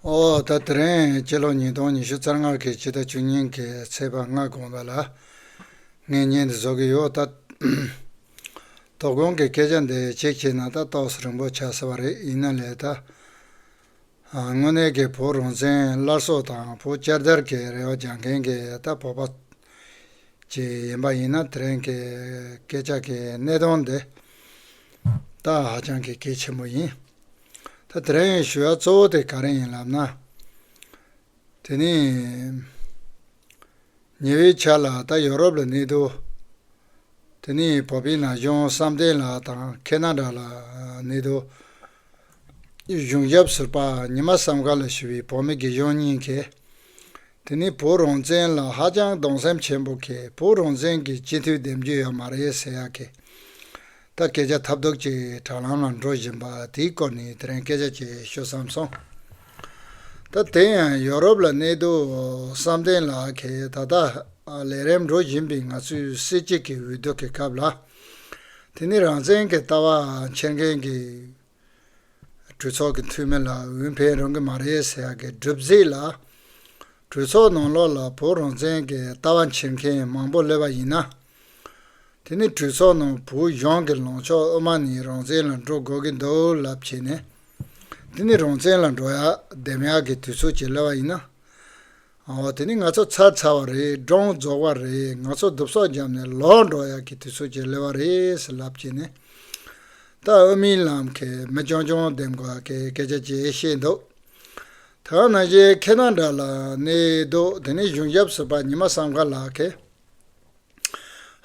ཨོ་ད་དེ་རིང་སྤྱི་ལོ་ཉིས་སྟོང་ཉི་ཤུ་རྩ་ལྔར་གྱི་ཕྱི་ཟླ་བཅུ་ཉིན་གྱི་ཚེས་པ་ལྔ་དགོངས་པ་ལ་ངས་བརྙན་འདི་བཟོ་གི་ཡོད་ད། དོ་དགོང་གི་སྐད་ཆ་འདི་གཅིག་བྱས་ན་ད་ཏོག་སི་རིང་པོ་ཆགས་ས་བ་རེད་ཡིན་ན་ལས་ད། དངོས་གནས་ཀྱི་བོད་རང་བཙན་སླར་གསོ་དང་བོད་བསྐྱར་དར་གྱི་རེ་བ་རྒྱག་མཁན་གྱི་ད་བོད་པ་ཅིག་ཡིན་པ་ཡིན་ན་དེ་རིང་གི་སྐད་ཆ་གི་གནད་དོན་འདི་ད་ཧ་ཅང་གི་གལ་ཆེན་པོ་ཡིན། ད་དེ་རིང་ཞུ་བ་གཙོ་བོ་དེ་ག་རེ་ཡིན་ལབ་ན། དེ་ནི། ཉེ་བའི་ཆ་ལ་ད་ཡོ་རོབ་ལ་གནས་འདུག་དེ་ནི་བོད་པའི་ན་གཞོན་བསམ་གཏན་ལགས་དང་ཁེ་ན་ར་ལ་གནས་འདུག་གཞུང་ཞབས་ཟུར་པ་ཉི་མ་བསམ་དགའ་ལ་ཞུ་བའི་བོད་མི་དགེ་གཞོན་གཉིས་ཀས་དེ་ནི་བོད་རང་བཙན་ལ་ཧ་ཅང་གདོང་སེམས་ཆེན་པོ་ཁེ་བོད་རང་བཙན་གྱི་སྤྱི་འཐུས་འདེམས་རྒྱུ་ཡོད་མ་རེད་ཟེར་ཡག་ཁེ། ད་སྐད་ཆ་ཐབས་སྡུག་ཅིག་དྲ་ལམ་ལ་འགྲོ་བཞིན་པ་དེའི་སྐོར་ནས་དེ་རིང་སྐད་ཆ་བྱེད་ཤོད་བསམ་སོང། ད་དེ་ཡང་ཡོ་རོབ་ལ་གནས་འདུག་བསམ་གཏན་ལགས་ཁེ་ད་ལྟ་ལས་རེམ་འགྲོ་བཞིན་པའི་ང་ཚོའི་སྲིད་སྤྱི་གི་འོས་བསྡུ་གི་སྐབས་ལ་དེ་ནི་རང་བཙན་གྱི་ལྟ་བ་འཁྱེར་མཁན་གྱི་གྲོས་ཚོགས་ཀྱི་འཐུས་མི་ལ་འོས་འཕེན་རུང་གི་མ་རེད་ཟེར་ཡག་གི་སྒྲུབ་རྩིས་ལ། གྲོས་ཚོགས་ནང་ལོགས་ལ་བོད་རང་བཙན་གྱི་ལྟ་བ་འཁྱེར་མཁན་མང་པོ་སླེབས་པ་ཡིན་ན། དེ་ནི་གྲོས་ཚོགས་ནང་བོད་གཞུང་གི་ལངས་ཕྱོགས་དབུ་མ་ནི་རང་བཙན་ལ་འགྲོ་དགོས་ཀྱི་འདུག་ལབ་བྱས་ནས། དེ་ནི་རང་བཙན་ལ་འགྲོ་ཡག་བསྡེམ་ཡག་གི་དུས་ཚོད་ཅིག་སླེབས་པ་ཡིན་ན། ཨོ་དེ་ནི་ང་ཚོ་ཚར་ཚར་བ་རེད་འབྲོང་རྫོགས་བ་རེད་ང་ཚོ་རྡུབ་སོག་འཇམ་ནས་ལོག་འགྲོ་ཡག་གི་དུས་ཚོད་ཀྱི་ལེ་བ་རེད་ཟེར་ལབ་ཀྱིན་ནས་ད་ཨོ་རྨིན་ལམ་གས་མི་ཅོང་ཅོང་ལྡེམ་ག་གས་སྐད་ཆ་བཅས་བཤད་འདུག་ད་ང་ནང་བཞིན་ཁེ་ན་འདྲ་ལ་གནས་འདུག་དེ་ནི་གཞུང་ཞབས་ཟུར་པ་ཉི་མ་བསམ་ག་ལགས་གས།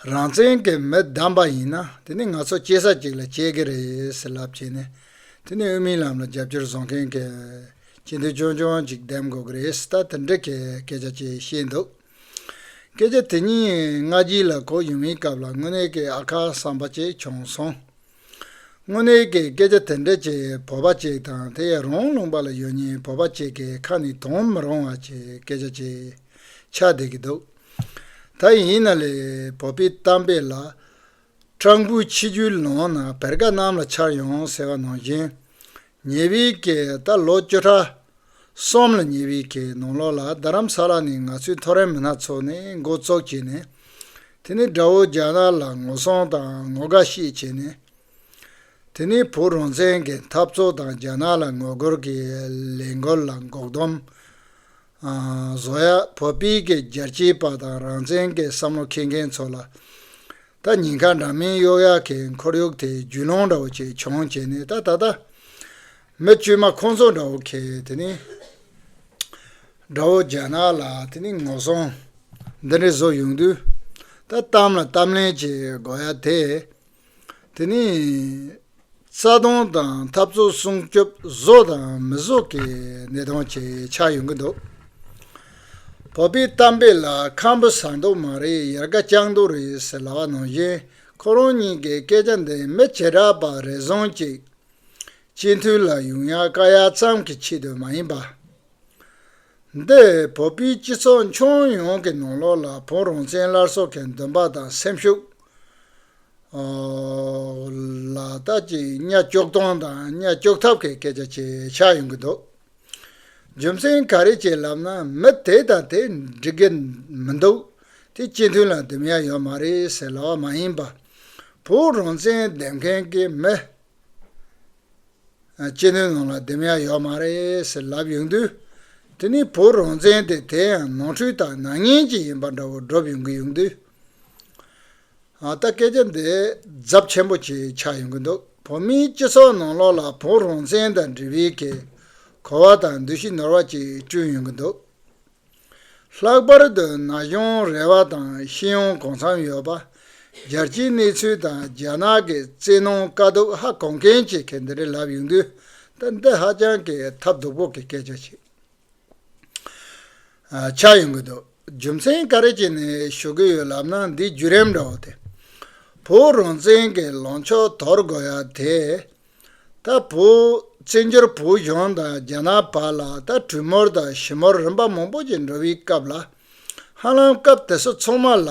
རང་བཙན་གྱི་མི་བདམས་པ་ཡིན་ན་དེ་ནི་ང་ཚོ་གཅེས་ས་གཅིག་ལ་གཅེས་ཀྱི་རེད་ཟེར་ལབ་བྱས་ནས་དེ་ནི་དབུ་མའི་ལམ་ལ་རྒྱབ་སྐྱོར་བཟོ་མཁན་གྱི་སྤྱི་འཐུས་ཆུང་ཆུང་ཅིག་འདེམས་དགོས་ཀྱི་རེད་ཟེར་ད་དེ་འདྲའི་སྐད་ཆ་བཅས་བཤད་འདུག་སྐད་ཆ་དེ་གཉིས་སྔ་རྗེས་ལ་གོ་ཡུལ་མིའི་སྐབས་ལ་དངོས་གནས་ཀྱི་ཨ་ཁ་བསམ་པ་བཅས་བྱུང་སོང། དངོས་གནས་ཀྱི་སྐད་ཆ་དེ་འདྲ་ཅིག་བོད་པ་ཅིག་དང་དེ་ཡང་རང་ལུང་པ་ལ་ཡོད་ཉེན་བོད་པ་ཅིག་གི་ཁ་ནས་དོན་མི་རུང་བ་ཅིག་སྐད་ཆ་ཅིག་ཆགས་བསྡད་ཀྱི་འདུག་ད་ཡིན་ན་ལས་བོད་པའི་གཏམ་དཔེ་ལ། སྤྲང་པོའི་ཆིག་རྒྱུའི་ལམ་ན་བེར་ཀ་གནམ་ལ་འཕྱར་ཡོང་ཟེར་བ་ནང་བཞིན། ཉེ་བའི་ཀའི་ཟླ་ལོ་བཅོ་ལྷག་གསུམ་ལ་ཉེ་བའི་ཀའི་ནང་ལོགས་ལ་རྡ་རམ་ས་ལ་ནས་ང་ཚོའི་ཐོ་རེངས་མི་སྣ་ཚོགས་ནས་འགོ་བཙོག་བྱས་ནས་དེ་ནས་དགྲ་བོ་རྒྱ་ནག་ལ་ངོ་སྲུང་དང་ངོ་དགའ་ཤས་བྱས་ནས་དེ་ནས་བོད་རང་བཙན་གྱི་འཐབ་རྩོད་དང་རྒྱ་ནག་ལ་ངོ་རྒོལ་གྱི་ལས་འགུལ་ལ་འགོག་སྡོམ་བཟོ་ཡག་བོད་པའི་གི་རྒྱལ་གཅེས་པ་དང་རང་བཙན་གྱི་བསམ་བློ་མཁས་མཁན་ཚོ་ལ་ད་ཉིན་ཁ་འདྲ་མིན་གཡོག་ཡག་གི་འཁོར་ཡུག་དེ་རྒྱུས་ལོང་འདྲ་བོ་ཅིག་བྱུང་བྱས་ནས་ད་ད་ལྟ། མི་དཀྱུས་མ་ཁོང་ཚོ་འདྲ་བོ་གིས་དེ་ནི། དགྲ་བོ་རྒྱ་ནག་ལ་དེ་ནི་ངོ་སྲུང། འདི་འདྲའི་བཟོ་ཡོང་དུས། ད་གཏམ་ལ་གཏམ་ལན་གྱི་དགོས་ཡ་དེ། དེ་ནི། རྩ་སྟོང་དང་འཐབ་རྩོད་སྲུང་སྐྱོབ་བཟོ་དང་མི་བཟོ་གི་གནས་སྟངས་བཅས་ཆགས་ཡོང་གི་འདུག་བོད་པའི་གཏམ་དཔེ་ལ་ཁམ་བུ་ཟ་མདོག་མ་རེད་ཡར་དགའ་སྤྱང་མདོག་རེད་ཟེར་ལ་བ་ནང་བཞིན་ཁོ་རང་གཉིས་ཀྱི་སྐད་ཆ་འདི་མི་བྱེ་བྲག་པ་རེ་བཟང་ཅིག་སྤྱི་འཐུས་ལ་ཡོང་ཡ་དཀའ་ཡ་ཙམ་གྱི་ཆེད་དུ་མ་ཡིན་པ། འདི་བོད་པའི་སྤྱི་ཚོགས་མཆོང་ཡོང་གི་ནང་ལོགས་ལ་བོང་རང་བཙན་སླར་གསོ་གི་འདུན་པ་དང་སེམས་ཤུགས། ལ་དྭགས་ཀྱི་གཉའ་གཅོག་སྟོང་དང་གཉའ་གཅོག་ཐབས་ཀྱི་སྐད་ཆ་བྱེད་ཤག་ཡོང་གི་འདུག་རྒྱུ་མཚན་ག་རེ་བྱས་ལབ་ན་མི་དེ་དང་དེ་འགྲིག་གི་མི་འདུག་དེ་སྤྱི་མཐུན་ལ་དུམ་ཡ་ཡོད་མ་རེད་ཟེར་ལབ་བ་མ་ཡིན་པ་བོད་རང་བཙན་འདེམས་མཁན་གྱི་མི་སྤྱི་མཐུན་ནང་ལ་དུམ་ཡ་ཡོད་མ་རེད་ཟེར་ལབ་ཡོང་དུས་དེ་ནི་བོད་རང་བཙན་དེ་དེ་ཡང་ནོར་འཁྲུལ་དང་ནག་ཉེས་ཅིག་ཡིན་པ་འདྲ་བོ་སྒྲོབ་ཡོང་གི་ཡོང་དུས། ད་སྐད་ཆ་འདི་རྫབ་ཆེན་པོ་ཆེ་ཆགས་ཡོང་གི་འདུག་བོད་མིའི་སྤྱི་ཚོགས་ནང་ལོགས་ལ་བོད་རང་བཙན་དང་འབྲེལ་བའི་གེ་གོ་བ་དང་འདུ་ཤེས་ནོར་བ་ཅིག་བསྐྲུན་ཡོང་གི་འདུག་ལྷག་པར་དུ་ན་གཞོན་རེ་བ་དང་ཤེས་ཡོན་གང་འཚམ་ཡོད་པ་རྒྱལ་སྤྱིའི་གནས་ཚུལ་དང་རྒྱ་ནག་གི་བཙན་གནོན་དཀའ་སྡུག་ཧ་གོ་མཁན་གྱི་གེ་འདི་རེ་ལབ་ཡོང་དུས་ད་འདི་ཧ་ཅང་གི་ཐབས་སྡུག་པོ་གི་སྐད་ཆ་ཞིག། ཆགས་ཡོང་གི་འདུག་རྒྱུ་མཚན་ག་རེ་བྱས་ནས་ཞུ་གི་ཡོད་ལབ་ན་འདི་བརྒྱུད་རིམ་འདྲ་བོ་སྟེ། བོད་རང་བཙན་གྱི་ལངས་ཕྱོགས་དོར་དགོས་ཡ་དེ། ད་བོད་བཙན་བྱོལ་བོད་གཞུང་དང་རྒྱ་ནག་བར་ལ་ད་གྲུས་མོལ་དང་ཞི་མོལ་རིམ་པ་མང་པོ་ཞིག་འགྲོ་བའི་སྐབས་ལ་ཧ་ལམ་སྐབས་དེ་ཚོ་ཚང་མ་ལ།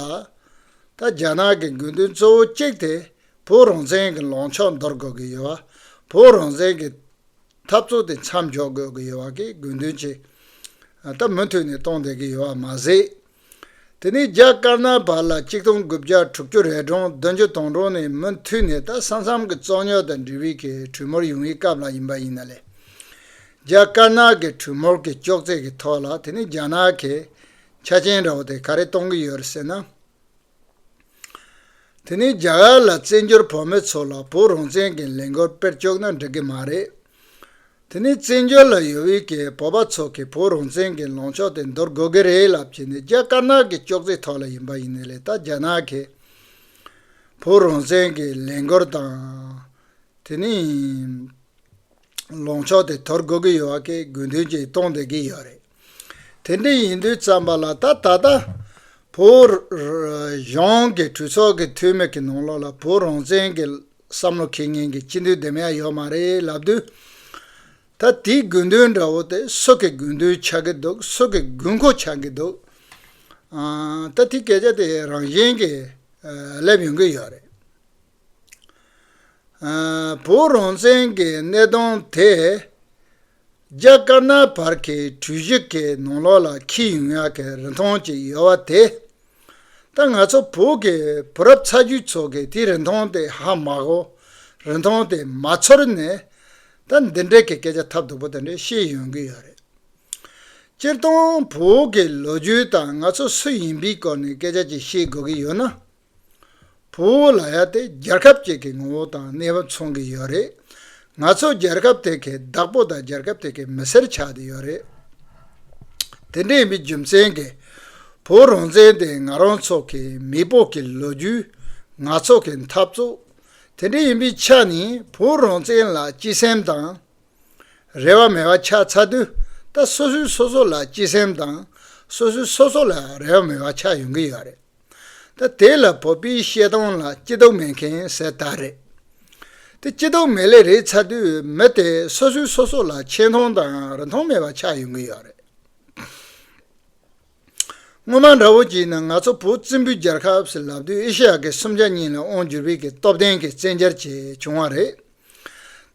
ད་རྒྱ་ནག་གི་དགོས་འདུན་གཙོ་བོ་གཅིག་དེ་བོད་རང་བཙན་གྱི་ལངས་ཕྱོགས་འདོར་དགོས་ཀྱི་ཡོད་བ་བོད་རང་བཙན་གྱི། འཐབ་རྩོད་དེ་མཚམས་འཇོག་དགོས་ཀྱི་ཡོད་བ་ཀྱི་དགོས་འདུན་ཆེ་ད་མུ་མཐུད་ནས་གཏོང་བསྡད་ཀྱི་ཡོད་བ་མ་ཟད། དེ་ནི་རྒྱ་དཀར་ནག་བར་ལ་གཅིག་སྟོང་དགུ་བརྒྱ་དྲུག་ཅུ་རེ་གྲངས་བདུན་ཅུ་སྟོང་གྲངས་ནས་མུ་མཐུད་ནས་ད་ས་མཚམས་ཀྱི་རྩོད་རྙོག་དང་འབྲེལ་བའི་གི་གྲོས་མོལ་ཡོང་ཡི་སྐབས་ལ་ཡིན་པ་ཡིན་ན་ལས། རྒྱ་དཀར་ནག་གི་གྲོས་མོལ་གྱི་ཅོག་ཙེ་གྱི་ཐོག་ལ་དེ་ནི་རྒྱ་ནག་གིས་ཆ་རྐྱེན་འདྲ་བོ་དེ་ག་རེ་གཏོང་གི་ཡོད་རེད་ཟེར་ན། དེ་ནི་རྒྱ་གར་ལ་བཙན་བྱོལ་བོད་མི་ཚོ་ལ་བོད་རང་བཙན་གྱི་ལས་འགུལ་སྤེལ་བཅུག་ན་འགྲིག་གི་མ་རེད། དེ་ནི་བཙན་བྱོལ་ལ་ཡོད་དབུས་ཀྱི་བོད་པ་ཚོ་གིས་བོད་རང་བཙན་གྱི་ལངས་ཕྱོགས་དེ་འདོར་དགོས་ཀྱི་རེད་ལབ་ཀྱི་ནི་རྒྱ་དཀར་ནག་གི་ཅོག་ཙེའི་ཐོག་ལ་ཡིན་པ་ཡིན་ནི་ལས་ད་རྒྱ་ནག་གིས་བོད་རང་བཙན་གྱི་ལས་འགུལ་དང། དེ་ནི། ལོངས་ཕྱོགས་དེ་དོར་དགོས་ཀྱི་ཡོད་བ་ཀའི་དགོས་འདུན་གྱིས་གཏོང་སྡོད་ཀྱི་ཡོད་རེད། དེ་འདྲ་ཡིན་དུས་བརྩམས་པ་ལ་ད་ད་ལྟ་བོད་གཞུང་གི་གྲོས་ཚོགས་ཀྱི་འཐུས་མི་གི་ནང་ལོགས་ལ་བོད་རང་བཙན་གྱི་བསམ་བློ་ཁེ་ངན་གྱི་སྤྱི་འཐུས་འདི་མ་ཡང་ཡོད་མ་རེད་ལབ་དུས། ད་དེའི་དགོས་འདུན་འདྲ་བོ་དེ་སུ་གི་དགོས་འདུན་ཆགས་ཀྱི་འདུག་སུ་གི་དགོས་མཁོ་ཆགས་ཀྱི་འདུག་ད་དེའི་སྐད་ཆ་དེ་རང་བཞིན་གྱིས་སླེབས་ཡོང་གི་ཡོད་རེད། བོད་རང་བཙན་གྱི་གནས་སྟངས་དེ་རྒྱ་དཀར་ནག་བར་གྱི་གྲོས་གཞི་གི་ནང་ལོགས་ལ་འཁེལ་ཡོང་ཡག་གི་རིན་ཐང་ཅིག་ཡོད་བ་དེ་ད་ང་ཚོ་བོད་ཀྱི་བུ་རབས་ཚ་རྒྱུད་ཚོ་གི་དེ་རིན་ཐང་དེ་ཧ་མ་གོ་རིན་ཐང་དེ་མ་ཚོར་ནས་ད་འདི་འདྲ་གི་སྐད་ཆ་ཐབས་སྡུག་པོ་དེ་འདྲ་བཤད་ཡོང་གི་ཡོད་རེད། སྤྱིར་བཏང་བོད་ཀྱི་ལོ་རྒྱུས་དང་ང་ཚོ་སུ་ཡིན་པའི་སྐོར་ནས་སྐད་ཆ་ཅིག་བཤད་དགོས་ཀྱི་ཡོད་ན། བོད་ལ་ཡ་དེ་རྒྱལ་ཁབ་ཅིག་གི་ངོ་བོ་དང་གནས་བབ་མཚུངས་ཀྱི་ཡོད་རེད། ང་ཚོ་རྒྱལ་ཁབ་དེ་གའི་བདག་པོ་དང་རྒྱལ་ཁབ་དེ་གའི་མི་སེར་ཆགས་ཏེ་ཡོད་རེད། དེ་འདྲ་ཡིན་པའི་རྒྱུ་མཚན་གྱིས་བོད་རང་བཙན་དེ་ང་རང་ཚོ་གི་མེས་པོ་གི་ལོ་རྒྱུས། ང་ཚོ་གི་འཐབ་རྩོད། དེ་འདྲ་ཡིན་པའི་ཆ་ནས་བོད་རང་བཙན་ལ་སྤྱི་སེམས་དང། རེ་བ་མེད་པ་ཆགས་ཚར་དུས་ད་སོ་སོའི་སོ་སོ་ལ་སྤྱི་སེམས་དང་སོ་སོའི་སོ་སོ་ལ་རེ་བ་མེད་པ་ཆགས་ཡོང་གི་ཡོད་རེད། ད་དེ་ལ་བོད་པའི་བཤད་སྟངས་ལ་སྐྱིད་སྡུག་མེད་མཁན་ཟེར་ལྟ་རེད། དེ་སྐྱིད་སྡུག་མེད་ལས་རེད་ཚར་དུས་མི་དེ་སོ་སོའི་སོ་སོ་ལ་ཆེ་མཐོང་དང་རི་མཐོང་མེད་པ་ཆགས་ཡོང་གི་ཡོད་རེད། སྔོན་མ་འདྲ་བོ་ཅིག་ནི་ང་ཚོ་བོད་བཙན་པོའི་རྒྱལ་ཁབ་ཟེར་ལབ་དུས་ཨེ་ཤེ་ཡ་གི་སུམ་ཆ་གཉིས་ལ་དབང་བསྒྱུར་བས་ཀྱི་སྟོབས་ལྡན་གྱི་བཙན་རྒྱལ་བཅས་བྱུང་བ་རེད།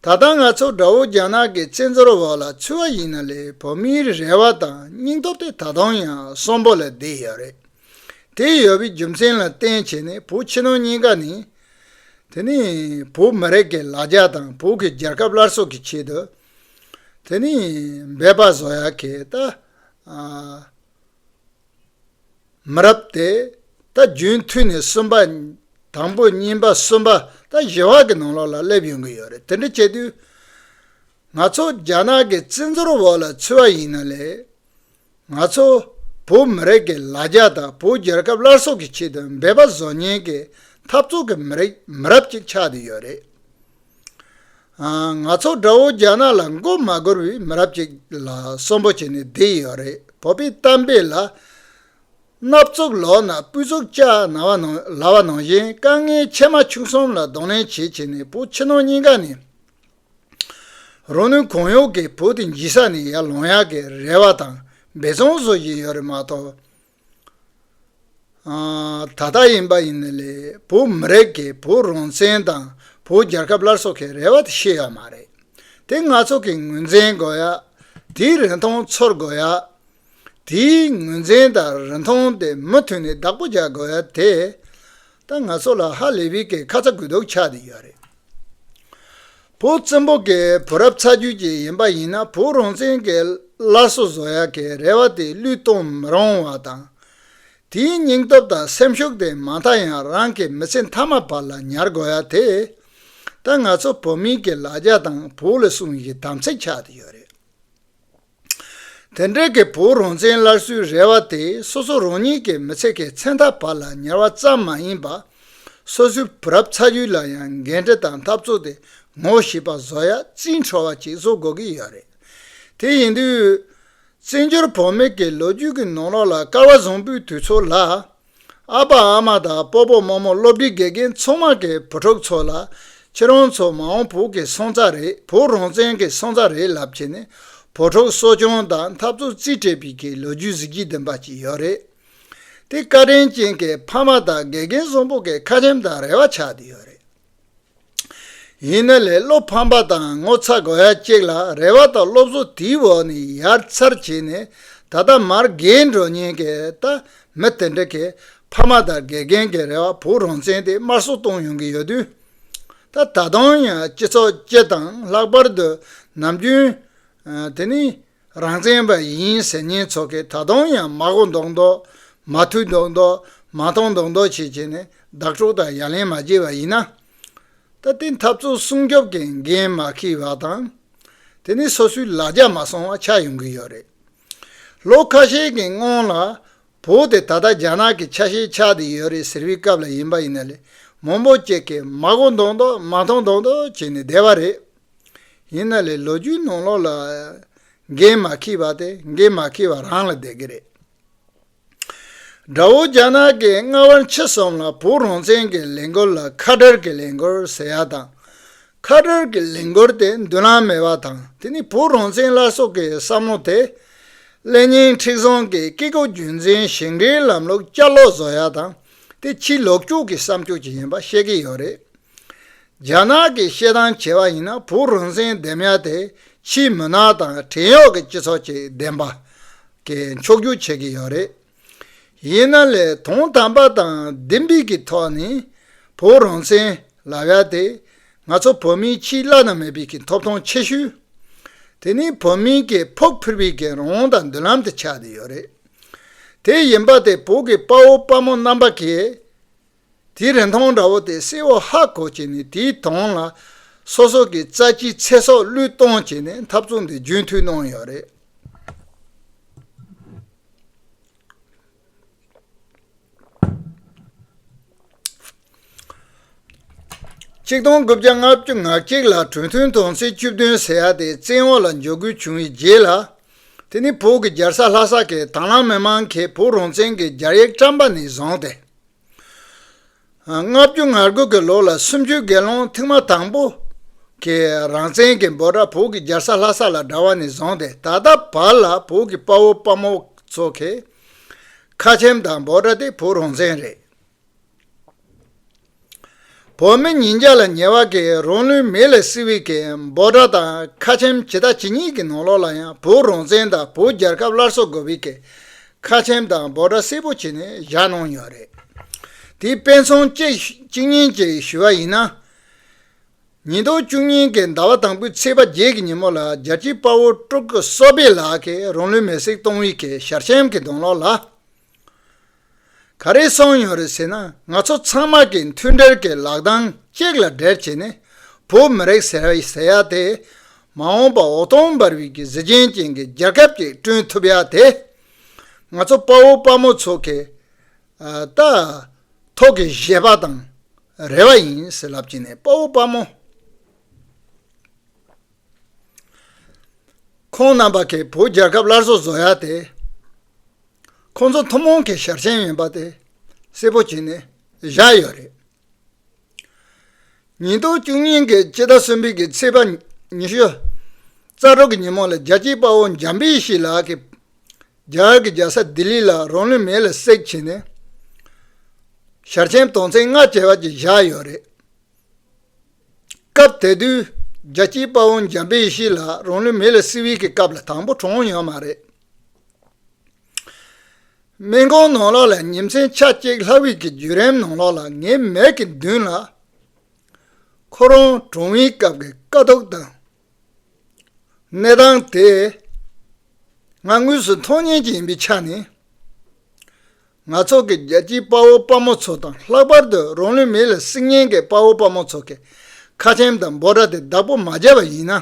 ད་ལྟ་ང་ཚོ་འདྲ་བོ་རྒྱ་ནག་གི་བཙན་འཛུལ་འོག་ལ་ཚུད་བ་ཡིན་ན་ལས་བོད་མིའི་རེ་བ་དང་སྙིང་སྟོབས་དེ་ད་དུང་ཡང་གསོན་པོ་ལ་བསྡད་ཡོད་རེད། དེ་ཡོད་པའི་རྒྱུ་མཚན་ལ་བརྟེན་བྱས་ནས་བོད་ཕྱི་ནང་གཉིས་ཀ་ནས། དེ་ནི་བོད་མི་རིགས་ཀྱི་ལ་རྒྱ་དང་བོད་ཀྱི་རྒྱལ་ཁབ་སླར་གསོ་གི་ཆེད་དུ། དེ་ནི་འབད་པ་བཟོ་ཡག་གི་ད། མི་རབས་དེ་ད་རྒྱུན་མཐུད་ནས་གསུམ་པ། དང་པོ་གཉིས་པ་གསུམ་པ་ད་བཞི་བ་གི་ནང་ལོགས་ལ་སླེབས་ཡོང་གི་ཡོད་རེད་དེ་འདྲ་བྱས་དུས། ང་ཚོ་རྒྱ་ནག་གི་བཙན་འཛུལ་འོག་ལ་ཚུད་བ་ཡིན་ན་ལས། ང་ཚོ་བོད་མི་རིགས་ཀྱི་ལ་རྒྱ་དང་བོད་རྒྱལ་ཁབ་སླར་གསོ་གི་ཆེད་དུ་འབད་པ་བཟོ་ཉེན་གྱི་འཐབ་རྩོད་ཀྱི་མི་རིགས་མི་རབས་ཅིག་ཆགས་བསྡད་ཡོད་རེད། ང་ཚོ་དགྲ་བོ་རྒྱ་ནག་ལ་མགོ་མ་སྒུར་བའི་མི་རབས་ཅིག་ལ་གསོན་པོ་བྱས་ནས་བསྡད་ཡོད་རེད་བོད་པའི་གཏམ་དཔེ་ལ། སྣབས་ཚུགས་ལོག་ན་སྤུས་ཚུགས་ལྕགས་ན་བ་ན་ལ་བ་ནང་བཞིན་དཀའ་ངལ་ཆེ་མ་ཆུང་གསུམ་ལ་གདོང་ལེན་བྱེད་བྱེད་ནས་བོད་ཕྱི་ནང་གཉིས་ཀ་ནས། རོ་ནུས་གོང་གཡོག་གི་བུ་དེ་འཇིག་ས་ནས་ཡར་ལོངས་ཡག་གི་རེ་བ་དང་འབད་བརྩོན་བཟོ་བཞིན་ཡོད་རེད་མ་གཏོགས། ད་ལྟ་ཡིན་པ་ཡིན་ནི་ལས་བུ་མི་རེད་གི་བུ་རང་བཙན་དང་བུ་རྒྱལ་ཁབ་སླར་གསོ་གི་རེ་བ་དེ་ཤེས་ཡོད་མ་རེད་དེ་ང་ཚོ་གི་ངོས་འཛིན་དགོས་ཡ་དེའི་རིན་ཐང་ཚོར་དགོས་ཡ། དེའི་ངོས་འཛིན་དང་རིན་ཐང་དེ་མུ་མཐུད་ནས་བདག་པོ་བྱ་དགོས་ཡ་དེ། ད་ང་ཚོ་ལ་ཧ་ལས་བི་ཀའི་ཁ་ཚ་དགོས་གཏུགས་ཆགས་བསྡད་ཡོད་རེད། བུ་བཙན་པོ་གའི་བུ་རབས་ཚ་རྒྱུད་ཅིག་ཡིན་པ་ཡིན་ན་བུ་རང་བཙན་གྱི་བླ་སྲོག་བཟོ་ཡ་གའི་རེ་བ་དེ་བསླུས་གཏོང་མི་རུང་བ་དང། དེའི་སྙིང་སྟོབས་དང་སེམས་ཤུགས་དེ་མ་མཐའ་ཡང་རང་གི་མི་ཚེ་མཐའ་མ་བར་ལ་ཉར་དགོས་ཡ་དེ། ད་ང་ཚོ་བོད་མིའི་གི་ལ་རྒྱ་དང་བོད་ལ་སྲུང་བཞིན་དམ་ཚིག་ཆགས་བསྡད་ཡོད་རེད། དེ་འབྲེལ་གྱི་བོད་རང་བཙན་སླར་གསོའི་རེ་བ་དེ་སོ་སོ་རང་ཉིད་ཀྱི་མི་ཚེ་གའི་མཚན་མཐའ་བར་ལ་ཉར་བ་ཙམ་མ་ཡིན་པར། སོ་སོའི་བུ་རབས་ཚ་རྒྱུད་ལ་ཡང་འགན་འཁྲི་དང་འཐབ་རྩོད་དེ་ངོ་ཤེས་པ་བཟོ་ཡ་རྩིས་འཕྲོ་བ་ཅིག་བཟོ་དགོས་ཀྱི་ཡོད་རེད། དེ་ཡིན་དུས། བཙན་བྱོལ་བོད་མི་གི་ལོ་རྒྱུས་ཀྱི་ནང་རོགས་ལ་སྐལ་བ་བཟང་པོའི་དུས་ཚོད་ལ། ཨ་ཕ་ཨ་མ་དང་སྤོ་སྤོ་རྨོ་རྨོ་སློབ་འབྲིང་དགེ་རྒན་མཚོ་དམག་གི་བུ་ཕྲུག་ཚོ་ལ། ཁྱེད་རང་ཚོ་མ་འོངས་བོུ་གི་སོང་རྩ་རེད་བོུ་རང་བཙན་གྱི་སོང་རྩ་རེད་ལབ་ཀྱི་ནི། བོུ་ཕྲུག་གསོ་སྐྱོང་དང་འཐབ་རྩོད་རྩིས་སྤྲད་པའི་གི་ལོ་རྒྱུས་གཟི་བརྗིད་ལྡན་པ་ཅིག་ཡོད་རེད་དེ། བཀའ་དྲིན་ཅན་གྱི་ཕ་མ་དང་དགེ་རྒན་གསུམ་པོ་གི་ཁ་ཆེམས་དང་རེ་བ་ཆགས་ཡོད་རེད། ཡིན་ན་ལས་སློབ་ཕམ་པ་དང་ངོ་ཚ་དགོས་ཡ་གཅིག་ལ་རེ་བ་དང་སློབ་གསོ་དེའི་འོག་ནས་ཡར་མཚར་བྱས་ནས་ད་ལྟ་མར་རྒས་འགྲོ་ཉེན་ཀེ་ད་མི་དེ་འདྲ་གི་ཕ་མ་དང་དགེ་རྒན་གི་རེ་བ་བུ་རང་བཙན་དེ་དམར་གསོད་གཏོང་ཡོང་གི་ཡོད་དུས་ད་ད་དུང་ཡང་སྤྱི་ཚོགས་སྤྱི་དང་ལྷག་པར་དུ་ནམ་རྒྱུན་དེ་ནི་རང་བཙན་པ་ཡིན་ཟེར་ཉེན་ཚོགས་ཀྱིས་ད་དུང་ཡང་མ་གོ་མདོག་མདོག་མ་ཐུག་མདོག་མདོག་མ་མཐོང་མདོག་མདོག་བྱེད་བྱེད་ནས་བདག་སྤྲོ་དང་ཡ་ལན་མ་བྱེད་པ་ཡིན་ན། ད་ལྟའི་འཐབ་རྩོད་སྲུང་སྐྱོབ་ཀྱི་འགན་མ་ཁྱི་བ་དང། དེ་ནི་སོ་སོའི་ལ་རྒྱ་མ་སོང་བ་ཆགས་ཡོང་གི་ཡོད་རེད། ལོ་ཁ་ཤས་ཀྱི་སྔོན་ལ་བོ་དེ་ད་ལྟ་རྒྱ་ནག་གི་ཆ་ཤས་ཆགས་ཏེ་ཡོད་རེད་ཟེར་བའི་སྐབས་ལ་ཡིན་པ་ཡིན་ན་ལས་མང་པོ་སྐྱེས་ཀྱི་མ་གོ་མདོག་མདོག་མ་མཐོང་མདོག་མདོག་བྱེད་ནས་བསྡད་པ་རེད། ཡིན་ན་ལས་ལོ་རྒྱུས་ནང་ལོགས་ལ་འགན་མ་འཁྱི་བ་དེ་འགན་མ་འཁྱི་བ་རང་ལ་བསྡད་ཀྱི་རེད། དགྲ་བོ་རྒྱ་ནག་གི་རྔ་བ་འཆི་གསུམ་ལ་བོད་རང་བཙན་གྱི་ལས་འགུལ་ལ་ཁ་བྲལ་གྱི་ལས་འགུལ་ཟེར་ཡ་དང། ཁ་བྲལ་གྱི་ལས་འགུལ་དེ་མདུན་ལམ་མེད་པ་དང་དེ་ནི་བོད་རང་བཙན་སླར་གསོ་གི་བསམ་བློ་དེ། ཀླད་རྙིང་མཁྲེགས་བཟང་གི་སྐྱེ་རྒུ་རྒྱུད་འཛིན་ཞིང་འབྲེལ་ལམ་ལུགས་བསྐྱར་ལོག་བཟོ་ཡ་དང་དེ་ཕྱིའི་ལོག་སྤྱོད་ཀྱི་བསམ་སྤྱོད་ཅིག་ཡིན་པ་ཤེས་ཀྱི་ཡོད་རེད། རྒྱ་ནག་གིས་བཤད་སྟངས་བྱས་པ་ཡིན་ན་བོད་རང་བཙན་ལྡེམ་ཡག་དེ་ཕྱིའི་མི་ནག་དང་བྲན་གཡོག་གི་སྤྱི་ཚོགས་ཅིག་ལྡེམ་པ། གི་མཆོག་གྱུར་བྱེད་ཀྱི་ཡོད་རེད། ཡིན་ན་ལས་དོན་དམ་པ་དང་བདེན་དཔེ་གི་ཐོག་ནས་བོད་རང་བཙན་ལབ་ཡག་དེ་ང་ཚོ་བོད་མིའི་ཕྱིའི་བླ་ན་མེད་པའི་གི་ཐོབ་ཐང་ཆེ་ཤོས་དེ་ནི་བོད་མིའི་གི་ཕུགས་ཕུལ་བའི་གི་རང་དང་མདུན་ལམ་དུ་ཆགས་བསྡད་ཡོད་རེད། དེ་ཡིན་པ་དེ་བོད་གི་དཔའ་བོ་དཔའ་མོ་རྣམ་པ་གིས། དེའི་རིན་ཐང་འདྲ་བོ་དེ་སེའོ་ཧ་གོ་བྱས་ནས་དེའི་དོན་ལ་སོ་སོ་གི་རྩ་ཆེའི་ཚེ་སྲོག་བློས་གཏོང་བྱས་ནས་འཐབ་རྩོད་འདི་རྒྱུན་མཐུད་གནང་ཡོད་རེད། གཅིག་སྟོང་དགུ་བརྒྱ་ལྔ་བཅུ་ང་གཅིག་ལ་གྲོས་མཐུན་དོན་ཚན་བཅུ་བདུན་ཟེར་ཡག་དེ་བཙན་འོག་ལ་འཇོག་དགོས་བྱུང་བའི་རྗེས་ལ། དེ་ནི་བོད་ཀྱི་རྒྱལ་ས་ལྷ་ས་ཁའི་དྭང་བླངས་མི་མང་གིས་བོད་རང་བཙན་གྱི་རྒྱ་ཡིག་བཀྲམ་པ་ནས་བཟུང་སྟེ། ལྔ་བཅུ་ང་དགུ་གི་ལོ་ལ་སུམ་ཅུའི་དགེ་སློང་ཐེངས་མ་དང་པོ་གིས་རང་བཙན་གྱི་འབོད་སྒྲ་བོད་ཀྱི་རྒྱལ་ས་ལྷ་ས་ལ་དྲ་བ་ནས་བཟུང་སྟེ་ད་ལྟ་བར་ལ་བོད་ཀྱི་དཔའ་བོ་དཔའ་མོ་ཚོ་གིས་ཁ་ཆེམས་དང་འབོད་སྒྲ་དེ་བོད་རང་བཙན་རེད། བོད་མི་ཉིས་བརྒྱ་ལ་ཉེ་བ་གིས་རང་ལུས་མེ་ལས་བསྲེགས་བའི་གད་འབོག་དགྲ་དང་ཁ་ཆེམས་ཇི་ལྟ་ཇི་སྙེད་ཀྱི་ནང་ལོགས་ལ་ཡང་བོད་རང་བཙན་དང་བོད་རྒྱལ་ཁབ་སླར་གསོ་དགོས་པའི་གད་ཁ་ཆེམས་དང་འབོག་དགྲ་སེར་པོ་བྱས་ནས་བཞག་གནང་ཡོད་རེད། དེའི་དཔེ་མཚོན་གཅིག་གཉིས་ཅིག་ཞུ་བ་ཡིན་ན། ཉིས་སྟོང་བཅུ་གཉིས་ཀྱི་ཟླ་བ་དང་པོའི་ཚེས་པ་བརྒྱད་ཀྱི་ཉིན་མོ་ལ་རྒྱལ་གཅེས་དཔའ་བོ་སྤྲུལ་སྐུ་བསོད་པའི་ལགས་ཀྱིས་རང་ལུས་མེ་བསྲེགས་གཏོང་བའི་གད་ཤར་ཆེམས་ཀྱི་གདོང་ལོགས་ལ། ག་རེ་གསུངས་ཡོད་རེད་ཟེར་ན་ང་ཚོ་ཚང་མ་གིས་མཐུན་སྒྲིལ་གྱི་ལག་གདང་གཅིག་ལ་སྦྲེལ་བྱས་ནས་བོད་མི་རིགས་ཟེར་བ་ཟེར་ཡ་དེ་མ་འོངས་པ་འོད་སྟོང་འབར་བའི་གཟི་བྱིན་ཅན་གྱི་རྒྱལ་ཁབ་ཅིག་བསྐྲུན་ཐུབ་ཡ་དེ་ང་ཚོ་དཔའ་བོ་དཔའ་མོ་ཚོ་གི་རྟ་ཐོག་གི་བཞེད་པ་དང་རེ་བ་ཡིན་ཟེར་ལབ་ཀྱིན་ནས་དཔའ་བོ་དཔའ་མོ་ཁོང་རྣམ་པ་གིས་བོད་རྒྱལ་ཁབ་སླར་གསོ་བཟོ་ཡ་དེ། ཁོང་ཚོ་ཐུན་མོང་གི་ཞབས་ཞེན་ཡིན་པ་དེ་གསལ་པོ་བྱས་ནས་བཞག་ཡོད་རེད། ཉིས་སྟོང་བཅུ་གཉིས་ཀྱི་སྤྱི་ཟླ་གསུམ་པའི་ཚེས་པ་ཉི་ཤུ་རྩ་དྲུག་གི་ཉིན་མོ་ལ་རྒྱལ་གཅེས་དཔའ་བོ་འཇམ་དཔལ་ཞིག་ལགས་ཀྱིས་རྒྱ་གར་གྱི་རྒྱལ་ས་ལྡི་ལི་ལ་རང་ལུས་མེ་ལ་བསྲེགས་བྱས་ནས་ཞར་ཆེན་དོན་ཚན་ལྔ་བྱ་བ་ཅིག་བཞག་ཡོད་རེད། སྐབས་དེ་དུས་རྒྱལ་གཅེས་དཔའ་བོ་འཇམ་དཔལ་ཞིག་ལགས་རང་ལུས་མེ་ལ་བསྲེགས་བའི་སྐབས་ལ་དང་པོ་གྲོངས་ཡོད་མ་རེད། སྨན་ཁང་ནང་ལོགས་ལ་ཉིན་མཚན་ཆ་གཅིག་ལྷ་དབྱིག་གི་བརྒྱུད་རིམ་ནང་ལོགས་ལ་ངའི་མལ་གྱི་མདུན་ལ་ཁོ་རང་གྲོངས་བའི་སྐབས་ཀྱི་དཀའ་སྡུག་དང་གནས་སྟངས་དེ་ང་དངོས་སུ་མཐོང་ཉེན་གྱི་ཡིན་པའི་ཆ་ནས་ང་ཚོ་གི་རྒྱལ་སྤྱིའི་དཔའ་བོ་དཔའ་མོ་ཚོ་དང་ལྷག་པར་དུ་རང་ལུས་མེ་ལ་བསྲེགས་ཉེན་གྱི་དཔའ་བོ་དཔའ་མོ་ཚོ་གི་ཁ་ཆེམས་དང་འབོད་སྒྲ་དེ་བདག་པོ་མ་བྱས་པ་ཡིན་ན།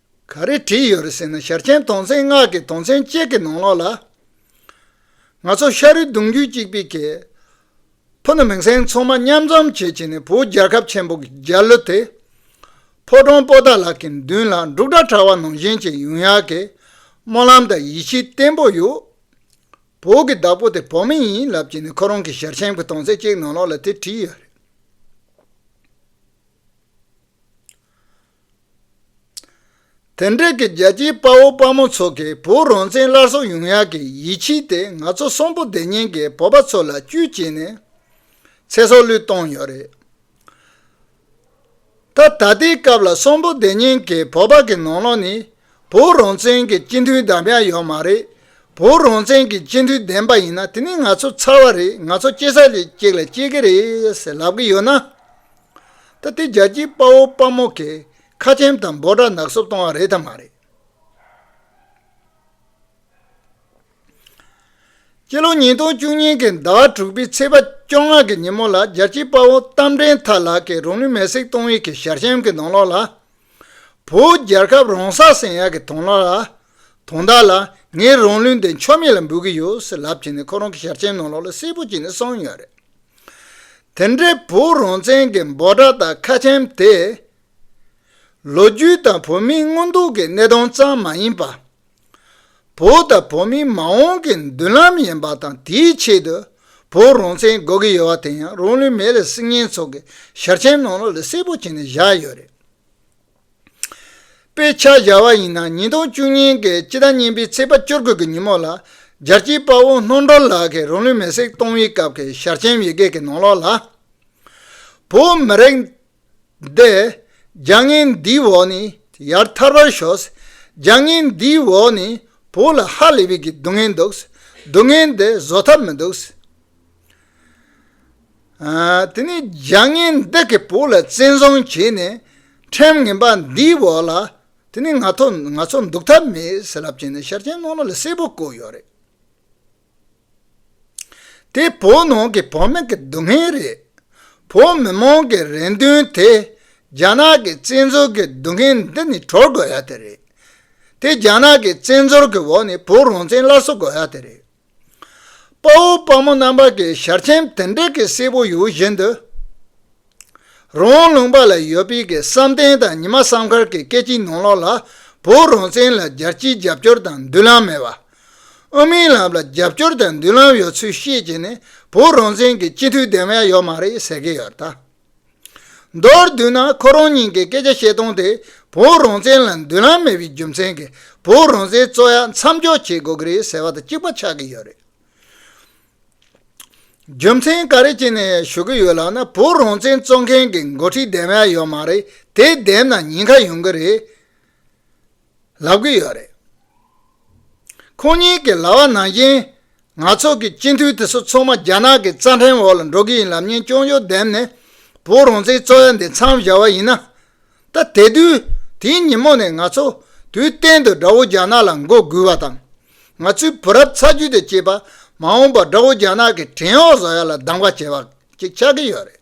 ག་རེ་བྲིས་ཡོད་རེད་ཟེར་ན་ཞར་ཆེན་དོང་ཚན་ལྔ་གི་དོང་ཚན་གཅིག་གི་ནང་ལོགས་ལ། ང་ཚོ་ཤ་རུས་གདུང་རྒྱུད་གཅིག་པའི་གེ། ཕུ་ནུ་མིང་སྲིང་ཚང་མ་མཉམ་འཛོམས་བྱེད་བྱེད་ནས་བོད་རྒྱལ་ཁབ་ཆེན་པོ་གི་རྒྱ་གླུ་དེ། ཕོ་བྲང་སྤོ་སྟག་ལགས་ཀྱི་མདུན་ལ་འབྲུག་སྒྲ་གྲགས་བ་ནང་བཞིན་གྱི་ཡུན་ཡག་གི་སྨོན་ལམ་དང་ཡིད་ཆེས་བརྟན་པོ་ཡོད། བོད་ཀྱི་བདག་པོ་དེ་བོད་མི་ཡིན་ལབ་བྱས་ནས་ཁོ་རང་གི་ཞར་ཆེན་གྱི་དོང་ཚན་གཅིག་ནང་ལོགས་ལ་དེ་བྲིས་ཡོད་རེད། དེ་འབྲེལ་གྱི་རྒྱལ་གཅེས་དཔའ་བོ་དཔའ་མོ་ཚོ་གིས་བུ་རོན་ཆེན་སླར་གསོ་ཡོང་ཡག་གི་ཡིད་ཆེས་དེ་ང་ཚོ་གསོན་པོ་བདེ་སྙིང་གི་བོད་པ་ཚོ་ལ་བཅུད་བྱས་ནས་ཚེ་སྲོག་བློས་གཏོང་ཡོད་རེད་ད། ད་ལྟའི་སྐབས་ལ་གསོན་པོ་བདེ་སྙིང་གི་བོད་པ་གི་ནང་ལོགས་ནས་བུ་རོན་ཆེན་གྱི་སྤྱི་མཐུས་བདམས་ཡག་ཡོད་མ་རེད་བུ་རོན་ཆེན་གྱི་སྤྱི་མཐུས་བདེན་པ་ཡིན་ན་དེ་ནི་ང་ཚོ་ཚར་བ་རེད་ང་ཚོ་སྐྱེ་ས་ལས་གཅིག་ལ་སྐྱེ་གི་རེད་ཟེར་ལབ་གི་ཡོད་ན། ད་ལྟའི་རྒྱལ་སྤྱིའི་དཔའ་བོ་དཔའ་མོ་གིས་ཁ་ཆེམ་དང་འབོ་སྦྲ་ནག་སུབ་གཏོང་བ་རེད་དམ་མ་རེད། སྤྱི་ལོ་ཉིས་སྟོང་བཅུ་གཉིས་ཀྱི་ཟླ་བ་དྲུག་པའི་ཚེས་པ་བཅོ་ལྔ་གི་ཉིན་མོ་ལ་རྒྱལ་སྤྱིའི་དཔའ་བོ་རྟ་མགྲིན་ཐར་ལགས་ཀྱིས་རོང་ནུས་མེ་སྲེག་གཏོང་ཡུལ་གྱི་ཞར་ཤམ་གྱི་ནང་ལོགས་ལ། བོད་རྒྱལ་ཁབ་རོང་ས་སེང་ཡག་གི་དོང་ལོགས་ལ་དོན་དག་ལ་ངས་རང་ལུས་འདི་ཕྱོགས་མེད་ལ་འབུལ་གི་ཡོད་ཟེར་ལབ་ཀྱིན་ནས་ཁོ་རང་གི་ཞལ་ཆེམས་ནང་ལོགས་ལ་སེར་པོ་ཅིག་ནས་གསང་ཡོད་རེད། དེ་འདྲའི་བོད་རང་བཙན་གྱི་འབོད་སྒྲ་དང་ཁ་ཆེམས་དེ། ལོ་རྒྱུས་དང་བོད་མིའི་མངོན་འདོད་ཀྱི་གནས་སྟངས་ཙམ་མ་ཡིན་པར། བོད་དང་བོད་མིའི་མ་འོངས་ཀྱི་མདུན་ལམ་ཡིན་པ་དང་དེའི་ཆེད་དུ་བོད་རང་བཙན་དགོས་ཀྱི་ཡོད་པ་དེ་ཡང་རང་ལུས་མེད་ལ་སྲིད་ངན་ཚོགས་ཀྱི་ཞལ་ཆེམས་ནང་ལོགས་ལ་སེར་པོ་ཅིག་ནས་བཞག་ཡོད་རེད། དཔེ་ཆ་གཞར་བ་ཡིན་ན་ཉིས་སྟོང་བཅུ་གཉིས་འགའི་སྤྱི་ཟླ་གཉིས་པའི་ཚེས་པ་བཅོ་བརྒྱད་ཀྱི་ཉིན་མོ་ལ། ལྗར་སྐྱིད་དཔའ་བོ་སྣོ་མདོ་ལགས་ཀྱིས་རང་ལུས་མེ་སྲེག་གཏོང་བའི་སྐབས་ཀྱི་ཞར་ཆེན་ཡི་གེ་ཀྱི་ནང་ལོགས་ལ། བོད་མི་རིགས་འདི་རྒྱ་ངན་འདིའི་འོག་ནས་ཡར་ཐར་བར་ཤོག། རྒྱ་ངན་འདིའི་འོག་ནས་བོད་ལ་ཧ་ལས་པའི་སྡུག་བསྔལ་འདུག། སྡུག་བསྔལ་འདི་བཟོད་ཐབས་མི་འདུག། དེ་ནས་བརྒྱ་ངན་བདག་གི་བུ་ལ་བཙན་བཟུང་བྱས་ནས་ཁྲིམས་ངན་པ་འདིའི་འོག་ལ་དེ་ནས་ང་ཚོ་འདུག་ཐབས་མེད་ཟེར་ལབ་བྱས་ནས་ཤར་ཆེན་ནོར་ལ་ལ་གསལ་པོ་བཀོད་ཡོད་རེད། དེ་བོད་ནང་གི་བོད་མི་གི་སྡུག་བསྔལ་རེད། བོད་མི་མང་གི་རེ་འདུན་དེ་རྒྱ་ནག་གི་བཙན་འཛུལ་གི་སྡུག་བསྔལ་འདི་ནས་གྲོལ་དགོས་ཡ་དེ་རེད། དེ་རྒྱ་ནག་གི་བཙན་འཛུལ་གི་འོག་ནས་བོད་རང་བཙན་སླར་གསོ་དགོས་ཡ་དེ་རེད། དཔའ་བོ་དཔའ་མོ་རྣམ་པ་ཀྱི་ཞར་ཆེན་དེ་འདྲ་གི་སྲས་པོ་ཡོད་བཞིན་དུ། རོང་ལུང་པ་ལ་ཡོད་པའི་གི་བསམ་གཏན་དང་ཉི་མ་བསམ་མཁར་གྱི་སྐད་ཅིག་ནང་ལོག་ལ་བོད་རང་བཙན་ལ་རྒྱལ་སྤྱིའི་རྒྱབ་སྐྱོར་དང་མདུན་ལམ་མེད་པ། དབུ་མའི་ལམ་ལ་རྒྱབ་སྐྱོར་དང་མདུན་ལམ་ཡོད་ཚུལ་བཤད་ཀྱི་ནས་བོད་རང་བཙན་གྱི་སྤྱི་འཐུས་འདེམས་ཡ་ཡོད་མ་རེད་ཟེར་གྱི་ཡོད་ད། མདོར་བསྡུས་ན་ཁོ་རང་ཉིད་ཀྱིས་སྐད་ཆ་བཤད་སྟངས་དེ་བོད་རང་བཙན་ལ་མདུན་ལམ་མེད་པའི་རྒྱུ་མཚན་གྱིས་བོད་རང་བཙན་རྩོད་ཡ་མཚམས་འཇོག་བྱེད་དགོས་ཀྱི་རེད་ཟེར་བ་དང་གཅིག་པ་ཆགས་ཀྱི་ཡོད་རེད། རྒྱུ་མཚན་ག་རེ་བྱས་ནས་ཞུ་གི་ཡོད་ལབ་ན་བོད་རང་བཙན་རྩོད་མཁན་གྱི་འགོ་ཁྲིད་བདེན་པ་ཡོད་མ་རེད་དེ་བདེན་ན་ཉེན་ཁ་ཡོང་གི་རེད། ལབ་ཀྱི་ཡོད་རེད། ཁོང་གཉིས་ཀྱི་ལྭ་བ་ནང་བཞིན་ང་ཚོ་གི་སྤྱི་འཐུས་དེ་ཚོ་ཚང་མ་རྒྱ་ནག་གི་རྩ་ཕྲན་འོག་ལ་འགྲོ་གི་ཡིན་ལབ་ཉེན་ཅོང་ཅོང་བསྡེབས་ནས་བོད་རང་བཙན་རྩོད་ཡ་འདི་མཚམས་བཞག་བ་ཡིན་ན། ད་དེ་དུས་དེའི་ཉིན་མོ་ནས་ང་ཚོ་དུས་གཏན་དུ་དགྲ་བོ་རྒྱ་ནག་ལ་མགོ་སྒུར་བ་དང། ང་ཚོའི་བུ་རབས་ཚ་རྒྱུད་དུ་སྐྱེས་པ་མ་འོངས་པར་དགྲ་བོ་རྒྱ་ནག་གི་བྲན་འོག་བཟོ་ཡ་ལ་སྡང་བ་བྱེད་པ་ཅིག་ཆགས་ཀྱི་ཡོད་རེད།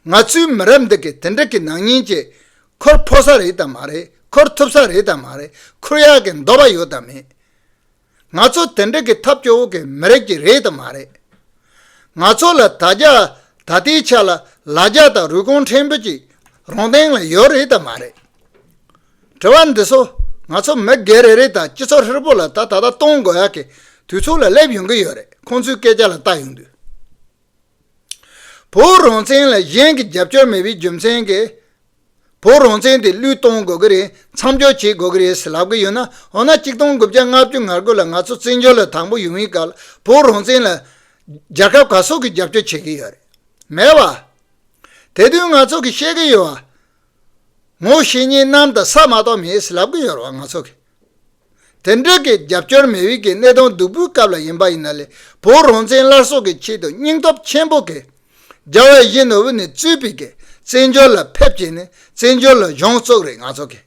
ང་ཚོའི་མི་རབས་འདི་གིས་དེ་འདྲ་གི་ནག་ཉེས་ཀྱིས་ཁུར་ཕོ་ས་རེད་དམ་མ་རེད་ཁུར་ཐུབ་ས་རེད་དམ་མ་རེད་ཁུར་ཡག་གི་འདོད་པ་ཡོད་དམ་མེད། ང་ཚོ་དེ་འདྲ་གི་ཐབས་སྐྱོ་བོ་གི་མི་རབས་ཀྱི་རེད་དམ་མ་རེད། ང་ཚོ་ལ་ད་རྒྱ་ད་ལྟའི་ཆ་ལ་ལ་རྒྱ་དང་རུས་གོང་ཕྲན་བུ་ཅིག་རང་སྟེང་ལ་ཡོད་རེད་དམ་མ་རེད། དྲི་བ་འདི་ཚོ་ང་ཚོ་མི་སྒེར་རེ་རེ་དང་སྤྱི་ཚོགས་ཧྲིལ་པོ་ལ་ད་ད་ལྟ་གཏོང་དགོས་ཡག་གི་དུས་ཚོད་ལ་སླེབས་ཡོང་གི་ཡོད་རེད་ཁོང་ཚོའི་སྐད་ཆ་ལ་བལྟ་ཡོང་དུས། བོད་རང་བཙན་ལ་གཞན་གྱི་རྒྱབ་སྐྱོར་མེད་པའི་རྒྱུ་མཚན་གྱིས། བོད་རང་བཙན་དེ་བློས་གཏོང་དགོས་ཀྱི་རེད་མཚམས་འཇོག་བྱེད་དགོས་ཀྱི་རེད་ཟེར་ལབ་ཀྱི་ཡོད་ན་འོ་ན་གཅིག་སྟོང་དགུ་བརྒྱ་ལྔ་བཅུ་ང་དགུ་ལ་ང་ཚོ་བཙན་བྱོལ་ལ་དང་པོ་ཡོང་བའི་སྐབས་ལ་བོད་རང་བཙན་ལ། རྒྱལ་ཁབ་ག་སོག་གིས་རྒྱབ་སྐྱོར་བྱེད་ཀྱི་ཡོད་རེད་མེད་བ། དེ་དུས་ང་ཚོ་གིས་བཤད་ཀྱི་ཡོད་བ། ངོ་ཤེས་ཉེ་རྣམ་དང་ས་མ་གཏོགས་མེད་ཟེར་ལབ་ཀྱི་ཡོད་རེད་བ་ང་ཚོ་གིས། དེ་འབྲེལ་གྱི་རྒྱབ་སྐྱོར་མི་ཡུལ་གྱི་གནས་སྟངས་སྡུག་པོའི་སྐབས་ལ་ཡིན་པ་ཡིན་ན་ལས་བུ་རང་བཙན་སླར་གསོ་གི་ཆེད་དུ་སྙིང་སྟོབས་ཆེན་པོ་གིས་རྒྱ་བལ་གཞིས་ནོར་བུ་ནས་རྩོད་པའི་གིས་བཙན་བྱོལ་ལ་ཕེབས་ཀྱིས་ནས་བཙན་བྱོལ་ལ་གཞུང་བཙུགས་རེད་ང་ཚོ་གིས་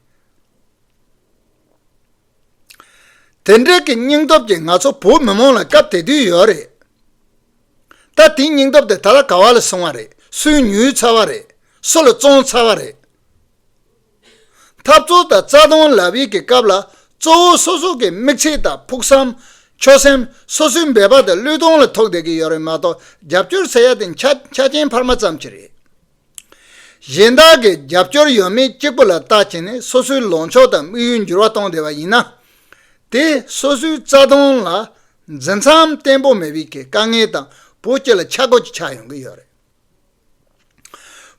དེ་འབྲེལ་གྱི་སྙིང་སྟོབས་ཀྱིས་ང་ཚོ་བོད་མི་མང་ལ་སྐབས་དེ་དུས་ཡོད་རེད་ད་དེའི་སྙིང་སྟོབས་དེ་ད་ལ་ག་བ་ལ་སོང་བ་རེད་སུས་ཉུལ་ཚར་བ་རེད་སུ་ལ་བཙོང་ཚར་བ་རེད། འཐབ་རྩོད་དང་རྩ་སྟོང་ལབ་ཡིག་གི་སྐབས་ལ་གཙོ་བོ་སོ་སོ་གི་མིག་ཚིག་དང་ཕུགས་བསམ། ཆོད་སེམས་སོ་སོའི་འབད་པ་དང་བློས་གཏོང་ལ་ཐོགས་བསྡད་ཀྱི་ཡོད་རེད་མ་གཏོགས་རྒྱབ་སྐྱོར་ཟེར་ཡ་དེ་ཆ་རྐྱེན་འཕར་མ་ཙམ་གྱིས་རེད། གཞན་དག་གིས་རྒྱབ་སྐྱོར་ཡོད་མེད་གཅིག་པུ་ལ་བརྟག་བྱས་ནས་སོ་སོའི་ལོངས་ཕྱོགས་དང་དམིགས་ཡུལ་འགྱུར་བ་གཏོང་བསྡད་པ་ཡིན་ན། དེ་སོ་སོའི་རྩ་སྟོང་ལ་འཛིན་མཚམས་བརྟན་པོ་མེད་པའི་དཀའ་ངལ་དང་བོ་སྐྱེ་ལ་ཆག་སྒོ་གཅིག་ཆགས་ཡོང་གི་ཡོད་རེད།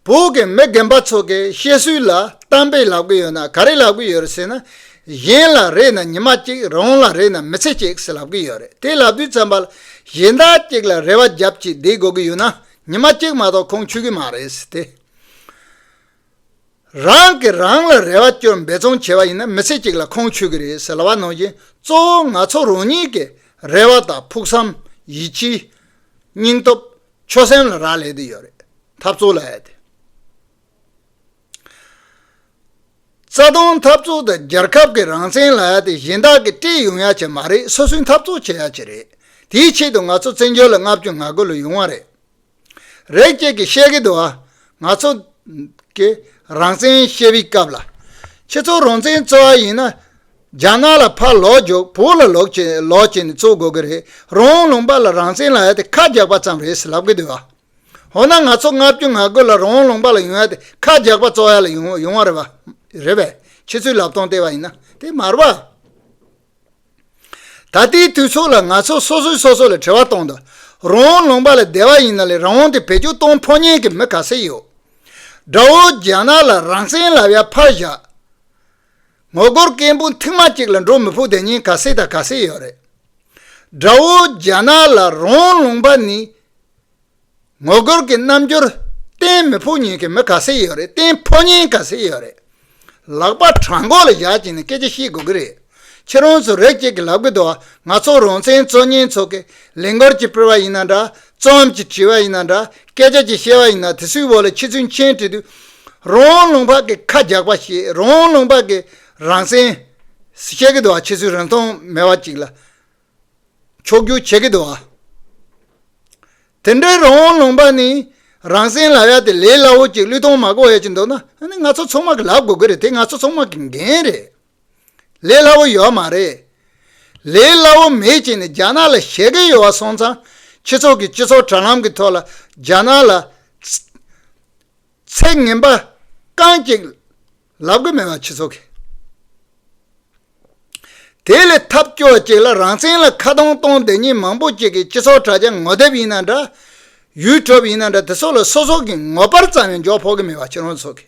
བོད་ཀྱི་མི་རྒན་པ་ཚོ་གི་བཤད་སྲོལ་ལ་གཏམ་དཔེ་ལབ་གི་ཡོད་ན་ག་རེ་ལབ་གི་ཡོད་རེད་ཟེར་ན། གཞན་ལ་རེད་ན་ཉི་མ་གཅིག་རང་ལ་རེད་ན་མི་ཚེ་གཅིག་ཟེར་ལབ་གི་ཡོད་རེད་དེ་ལབ་དུས་ཙམ་པ་ལ་གཞན་དག་གཅིག་ལ་རེ་བ་རྒྱབ་ཀྱིས་བསྡད་དགོས་ཀྱི་ཡོད་ན་ཉི་མ་གཅིག་མ་གཏོགས་ཁུངས་ཆུད་ཀྱི་མ་རེད་ཟེར་ཏེ། རང་གིས་རང་ལ་རེ་བ་བཅོལ་འབད་བརྩོན་བྱས་པ་ཡིན་ན་མི་ཚེ་གཅིག་ལ་ཁུངས་ཆུད་ཀྱི་རེད་ཟེར་ལབ་པ་ནང་བཞིན་གཙོ་བོ་ང་ཚོ་རང་ཉིད་ཀྱི་རེ་བ་དང་ཕུགས་བསམ་ཡིད་ཆེས་སྙིང་སྟོབས་ཆོས་སེམས་ལ་རག་ལས་དེ་ཡོད་རེད་འཐབ་རྩོད་ལ་ཡ་དེ། རྩ་དོན་འཐབ་རྩོད་དེ་རྒྱལ་ཁབ་ཀྱི་རང་བཙན་ལ་ཡ་དེ་གཞན་དག་གིས་སྤྲད་ཡོང་ཡ་ཆེད་མ་རེད་སོ་སོའི་འཐབ་རྩོད་བྱེད་ཡ་ཆེད་རེད་དེའི་ཆེད་དུ་ང་ཚོ་བཙན་བྱོལ་ལ་ལྔ་བཅུ་ང་དགུ་ལོ་ཡོང་བ་རེད་རེད་ཁྱེད་ཀྱིས་བཤད་གི་འདུག་ཨ་ང་ཚོ་གི་རང་བཙན་བཤད་པའི་སྐབས་ལ་ཁྱེད་ཚོ་རང་བཙན་རྩོད་ཡ་ཡིན་ན་རྒྱ་ནག་ལ་ཕར་ལོག་རྒྱོབ་བོད་ལ་ལོག་ཅེས་ལོག་ཅེས་ནས་བཙུགས་དགོས་ཀྱི་རེད་རོང་ལུང་པ་ལ་རང་བཙན་ལ་ཡོད་དེ་ཁ་རྒྱག་པ་ཙམ་རེད་ཟེར་ལབ་ཀྱི་འདུག་བ། འོ་ན་ང་ཚོ་ལྔ་བཅུ་ང་དགུ་ལ་རོང་ལུང་པ་ལ་ཡོང་ཡ་དེ་ཁ་རྒྱག་པ་བཙོག་ཡ་ལ་ཡོང་ཡོང་བ་རེད་བ། རེད་བས། ཁྱེད་ཚོའི་ལབ་སྟོང་ལྟས་བ་ཡིན་ན་དེ་མ་རེད་བ། ད་ལྟའི་དུས་ཚོད་ལ་ང་ཚོ་སོ་སོས་སོ་སོ་ལ་དྲི་བ་གཏོང་འདོད། རོང་ལུང་པ་ལ་བསྡད་བ་ཡིན་ན་ལས་རང་དབང་དེ་བེད་སྤྱོད་གཏོང་ཕོ་ཉན་གྱི་མི་ག་ཚད་ཡོད། དགྲ་བོ་རྒྱ་ནག་ལ་རང་བཙན་ལབ་ཡ་ཕར་བཞག། ངོ་རྒོལ་སྐད་འབོད་མཐིང་དམར་གཅིག་ལ་འགྲོ་མི་ཕོད་དེ་གཉིས་ག་སེ་དང་ག་སེ་ཡོད་རེད། དགྲ་བོ་རྒྱ་ནག་ལ་རོང་ལུང་པ་ནི་ངོ་རྒོལ་གྱི་རྣམ་འགྱུར་བསྟན་མི་ཕོད་ཉེན་ཀྱི་མི་ག་སེ་ཡོད་རེད་བསྟན་ཕོད་ཉེན་ག་སེ་ཡོད་རེད། ལག་པ་བྲང་མགོ་ལ་བཞག་ཅིག་ནས་སྐད་ཆ་བཤད་དགོས་ཀྱི་རེད། ཁྱེད་རང་ཚོ་རེག་བྱེད་ཀྱི་ལབ་གི་འདུག་ང་ཚོ་རང་བཙན་གཙོ་གཉེན་ཚོགས་ཀྱི་ལས་འགུལ་གྱི་སྤེལ་བ་ཡིན་ན་འདྲ་གཙོ་འམ་ཅི་དྲི་བ་ཡིན་ན་འདྲ་སྐད་ཆ་ཅི་བཤད་པ་ཡིན་ན་དེ་སུའི་འོག་ལ་ཁྱི་ཚུལ་མཆན་བྲིས་དུས། རོང་བོ་ལུང་འཕགས་ཀྱི་ཁ་རྒྱག་པ་ཞེས་རོང་བོ་ལུང་འཕགས་ཀྱི་རང་སེམས། བཤད་ཀྱི་འདུག་ཨ་ཁྱེད་ཚོས་རིན་ཐང་མེད་པ་ཅིག་ལ་མཆོག་གྱུར་བྱེད་ཀྱི་འདུག་ཨ། དེ་འདྲའི་རོང་བོ་ལུང་འཕགས་ནི་རང་སེམས་ལ་ཡ་དེ་ལས་སླ་བོ་ཅིག་གླུད་ཐོང་མ་གོ་ཡ་ཅིག་འདུག་ན་ཨ་ནི་ང་ཚོ་ཚོང་དམག་གི་ལག་དགོས་ཀྱི་རེད་དེ་ང་ཚོ་ཚོང་དམག་གི་འགན་རེད། ལས་སླ་བོ་ཡོད་མ་རེད། ལས་སླ་བོ་མེད་ཅེས་ནས་རྒྱ་ནག་ལ་བཤད་མཁན་ཡོད་བ་སོང་ཙང་ཁྱེད་ཚོ་གིས་སྤྱི་ཚོགས་དྲ་ལམ་གྱི་ཐོག་ལ་རྒྱ་ནག་ལ་ཚད་ངན་པ་རྐང་གཅིག་ལབ་གི་མེད་བ་ཁྱེད་ཚོ་གིས་དེ་ལས་ཐབས་སྐྱོ་བ་ཅིག་ལ་རང་བཙན་ལ་ཁ་གདོང་གཏོང་བསྡད་མྱི་མང་པོ་ཅིག་གིས་སྤྱི་ཚོགས་དྲ་རྒྱ་ངོ་དེབ་ཡིན་ན་འདྲ། YouTube ཡིན་ན་འདྲ་དེ་ཚོ་ལ་སོ་སོ་གིས་ངོ་པར་ཙམ་ཡང་འཇོག་ཕོག་གི་མེད་བ་ཁྱེད་རང་ཚོ་གིས།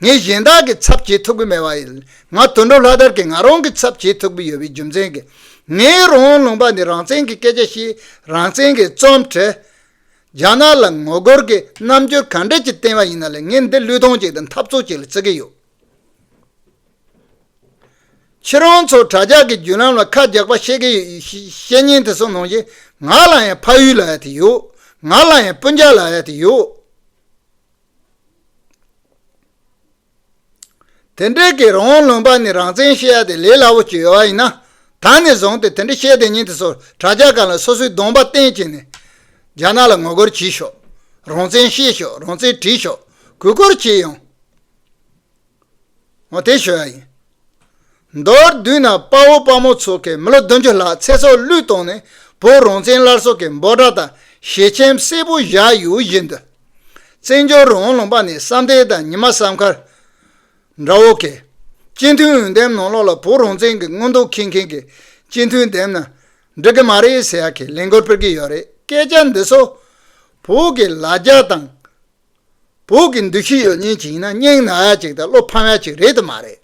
ངས་གཞན་དག་གི་ཚབ་བྱེད་ཐུབ་ཀྱི་མེད་པ་ཡིན། ང་དོན་གྲུབ་ལྷ་དར་གྱིས་ང་རང་གི་ཚབ་བྱེད་ཐུབ་ཀྱི་ཡོད་པའི་རྒྱུ་མཚན་གྱིས། ངའི་རང་ལུང་པ་ནི་རང་བཙན་གྱི་སྐད་ཆ་བཤད། རང་བཙན་གྱི་རྩོམ་བྲི། རྒྱ་ནག་ལ་ངོ་རྒོལ་གྱི་རྣམ་འགྱུར་ག་འདྲ་ཅིག་བསྟན་པ་ཡིན་ན་ལས་ངས་འདི་བློས་གཏོང་བྱས་ཏེ་འཐབ་རྩོད་བྱེད་ལ་བརྩི་གི་ཡོད། ཁྱེད་རང་ཚོ་དྲྭ་ཇག་གི་བརྒྱུད་ལམ་ལ་ཁ་རྒྱག་པ་བཤད་ཀྱི་ཡོད་བཤད་ཉན་དེ་ཚོ་ནང་བཞིན་ང་ལ་ཡང་ཕ་ཡུལ་ལ་ཡ་དེ་ཡོད། ང་ལ་ཡང་སྤུན་ཆ་ལ་ཡ་དེ་ཡོད། དེ་འདྲའི་གི་རང་དབང་ལོན་པ་ནི་རང་བཙན་བཤད་ཡ་དེ་ལས་སླ་བོ་ཅི་ཡོད་ཡིན་ན། ད་ནས་བཟུང་སྟེ་དེ་འདྲ་བཤད་དེ་ཉིན་དེ་ཚོར་དྲ་རྒྱ་སྒང་ལ་སོ་སོའི་གདོང་པ་བསྟན་གྱིས་ནས། རྒྱ་ནག་ལ་ངོ་རྒོལ་བྱས་ཤོག། རང་བཙན་བཤད་ཤོག་རང་བཙན་བྲིས་ཤོག་གུས་བཀུར་བྱས་ཡོང། ངོ་དེ་ཞུ་ཡ་ཡིན། མདོར་བསྡུས་ན་དཔའ་བོ་དཔའ་མོ་ཚོ་གིས་མི་ལོ་བདུན་ཅུ་ལྷག་ཚེ་སྲོག་བློས་གཏོང་ནས་བོད་རང་བཙན་སླར་གསོ་གི་འབོད་སྒྲ་དང་ཞལ་ཆེམས་གསལ་པོ་བཞག་ཡོད་བཞིན་དུ། བཙན་བྱོལ་རང་ལུང་པ་ནས་བསམ་གཏན་དང་ཉི་མ་བསམ་མཁར། འདྲ་བོ་གིས། སྤྱི་མཐུན་འོས་འདེམས་ནང་ལོགས་ལ་བོད་རང་བཙན་གྱི་མངོན་རྟོགས་མཁྱེན་མཁན་གྱི་སྤྱི་མཐུན་འདེམས་ན་འགྲིག་གི་མ་རེད་ཟེར་ཡག་གི་ལན་སྐོར་ཕུལ་གྱི་ཡོད་རེད་སྐད་ཆ་འདི་ཚོ་བོད་ཀྱི་ལ་རྒྱ་དང་བོད་ཀྱི་འདུ་ཤེས་ཡོད་ཉེན་ཅིག་ཡིན་ན་སྙིང་ན་ཅིག་དང་བློ་ཕམ་ཡ་ཅིག་རེད་དུ་མ་རེད།